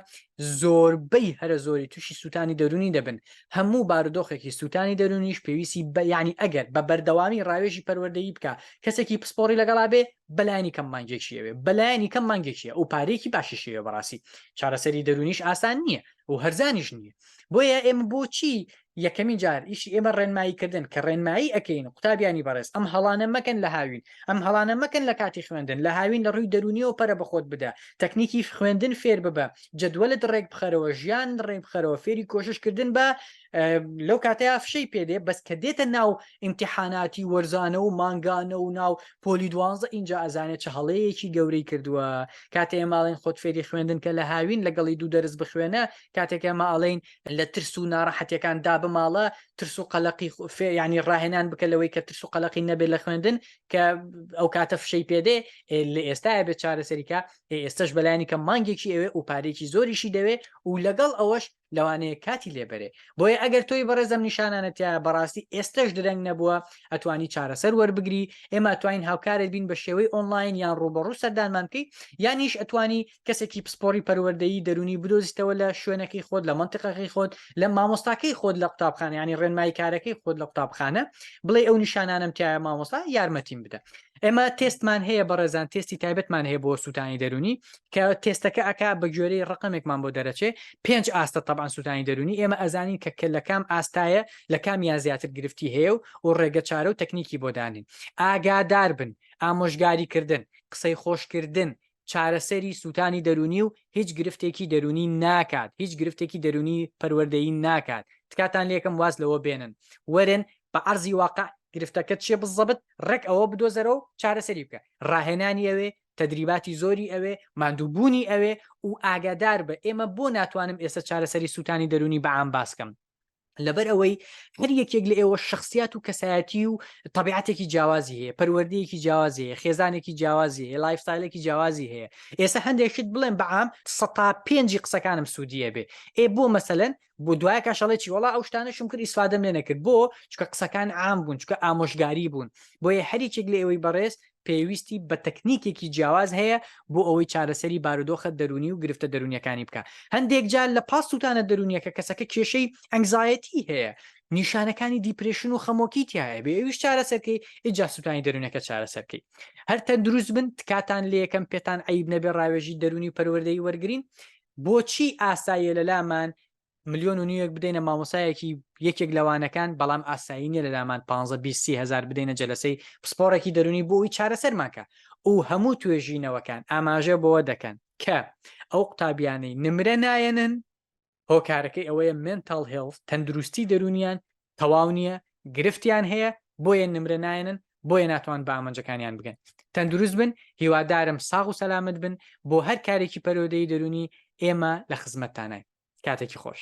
S1: زۆربەی هەرە زۆری تووشی سووتانی دەرونی دەبن هەموو بارودۆخێکی سووتانی دەرونیش پێویستی بەیانی ئەگەر بە بەردەوامی ڕاوێژی پەروەردەیی بکە کەسێکی پسپۆری لەگەڵا بێ بەلایانی کەم مانگێکیەوێ بەلایانی کەم مانگێکیە و پارێکی باشیشەیە بەڕاستی چارەسەری دەرونیش ئاسان نییە و هەرزانیش نییە بۆیە ئێمە بۆچی یەکەمین جار ئیشی ئێمە ڕێنمایی کردن کە ڕێنمایی ئەەکەین و قوتابیانی بەڕێز ئەم هەڵانە مەکەن لە هاوین ئەم هەڵانە مەکەن لە کاتی خوێندن لە هاوین لە ڕووی دەرونیەوە پەرە بەخۆت بدە تەکنیکی خوێندن فێر ببە جدوەلت ڕێک بخەرەوە ژیان ڕێک بخەرەوە فێری کۆششکردن بە لەو کاتەیە فشەی پێدێ بەس کە دێتە ناو ئیمتحاناتی وەرزانە و مانگانە و ناو پۆلی دوانزە اینجا ئەزانێت چه هەڵەیەکی گەورەی کردووە کاتێ ماڵێن خۆت فێری خوێندن کە لە هاوین لەگەڵی دوو دەرز بخوێنە کاتێک ئەمە ئاڵین لە ترس و ناڕەحەتەکان دا بماڵە ترس و قەلقی فێ ینی ڕاهێنان بکە لەوەی کە ترس و قەلقی نەبێت لە خوێندن کە ئەو کاتە فشەی پێدێ لە ئێستاە بێت چارەسەریکە ئێستش بەلایانی کە مانگێکی ئەوێ و پارێکی زۆریشی دەوێ و لەگەڵ ئەوەش لەوانەیە کاتی لێبەرێ بۆیە ئەگەر تۆی بەڕێزم نیشانانەتە بەڕاستی ئێستش درەنگ نەبووە ئەتوانی چارەسەر وەربگری ئێمە توانین هاوکارێت بین بە شێوەی ئۆنلاین یان ڕوبەڕوو سەردانمان بکەیت یانیش ئەتوانی کەسێکی پسپۆڕی پەروەردەیی دەرونی بدۆزیتەوە لە شوێنەکەی خۆت لە منتیقەکەی خۆت لە مامۆستاکەی خۆت لە قوتابخانە ینی ڕێنمایی کارەکەی خۆت لە قوتابخانە بڵێ ئەو نیشانانم تایە مامۆستا یارمەتیم بدە ئێمە تێستمان هەیە بەڕێزان تێستی تایبەتمان هەیە بۆ سووتانی دەرونی کە تێستەکە ئەک بە گوێرەی ڕقمێکمان بۆ دەرەچێ پێنج ئاستە تەبان سووتانی دەرونی ئێمە ئەزانین کە کە لە کام ئاستایە لە کام یا زیاتر گرفتی هەیە و و ڕێگە چارە و تەکنیکی بۆ دانین ئاگادار بن ئامۆژگاری کردن قسەی خۆشکردن چارەسەری سووتانی دەروونی و هیچ گرفتێکی دەروونی ناکات هیچ گرفتێکی دەروونی پەروەردەیی ناکات تکاتان لێکەم واز لەوە بێنن وەرن بە عەرزی واقع گرفتەکەت چیە بزەبت ڕێک ئەوە بدۆزەرە و چارەسەری بکە ڕاهێنانی ئەوێ تەدریباتی زۆری ئەوێ ماندووبوونی ئەوێ و ئاگاداربە ئێمە بۆ ناتوانم ئێستا چارەسەری سووتانی دەروونی بە عام باسکەم لەبەر ئەوەی هەر یەکێک لە ئێوە شخصیات و کەسایەتی و طبیعاتێکی جیاوازی هەیە پەروەردەیەکی جیاوازی هەیە خێزانێکی جیاوازی هەیە لایفستایلێکی جیاوازی هەیە ئێستا هەندێکشت بڵێن بەعام سەتا پێنجی قسەکانم سوودیە بێ ئێ بۆ مەسەن بۆ دوای کاشەڵێکی وڵا ئەو شتانەشم کرد ئیسفادەم لێ نەکرد بۆ چکە قسەکان عام بوون چکە ئامۆژگاری بوون بۆیە هەریکێک لە ئێوەی بەڕێز پێویستی بە تەکنیکێکی جیاواز هەیە بۆ ئەوەی چارەسەری بارودۆخە دەروونی و گرفتە دەروونیەکانی بکا هەندێک جار لە پاس سووتانە دەروونیەکە کەسەکە کێشەی ئەنگزایەتی هەیە نیشانەکانی دیپرشن و خەمۆکی تایە بێ ئەویش چارەسەرکەی ئیجا سووتانی دەروونەکە چارەسەرکەی هەر تەندروست بن تکاتان لە یەکەم پێتان عیب نەبێ ڕاوێژی دەروونی و پەروەردەی وەرگین بۆچی ئاساییە لەلامان ملیۆن و نیوەک بدەینە مامۆسایەکی یەکێک لەوانەکان بەڵام ئاسایی نیە لەلامان 15 هزار بدەینە جلسەی پسپۆڕێکی دەرونی بۆی چارەسەرمانکە ئەو هەموو توێژینەوەکان ئاماژە بۆەوە دەکەن کە ئەو قوتابیانەی نمرە نایەنن هۆکارەکەی ئەوەیە منتال هێڵ تەندروستی دەرونیان تەواو نیە گرفتیان هەیە بۆیە نمرە نایەنن بۆیە ناتوان بە ئامانجەکانیان بگەن تەندروست بن هیوادارم ساغ و سەلامەت بن بۆ هەر کارێکی پەرۆدەی دەرونی ئێمە لە خزمەتتاناین کاتێکی خۆش.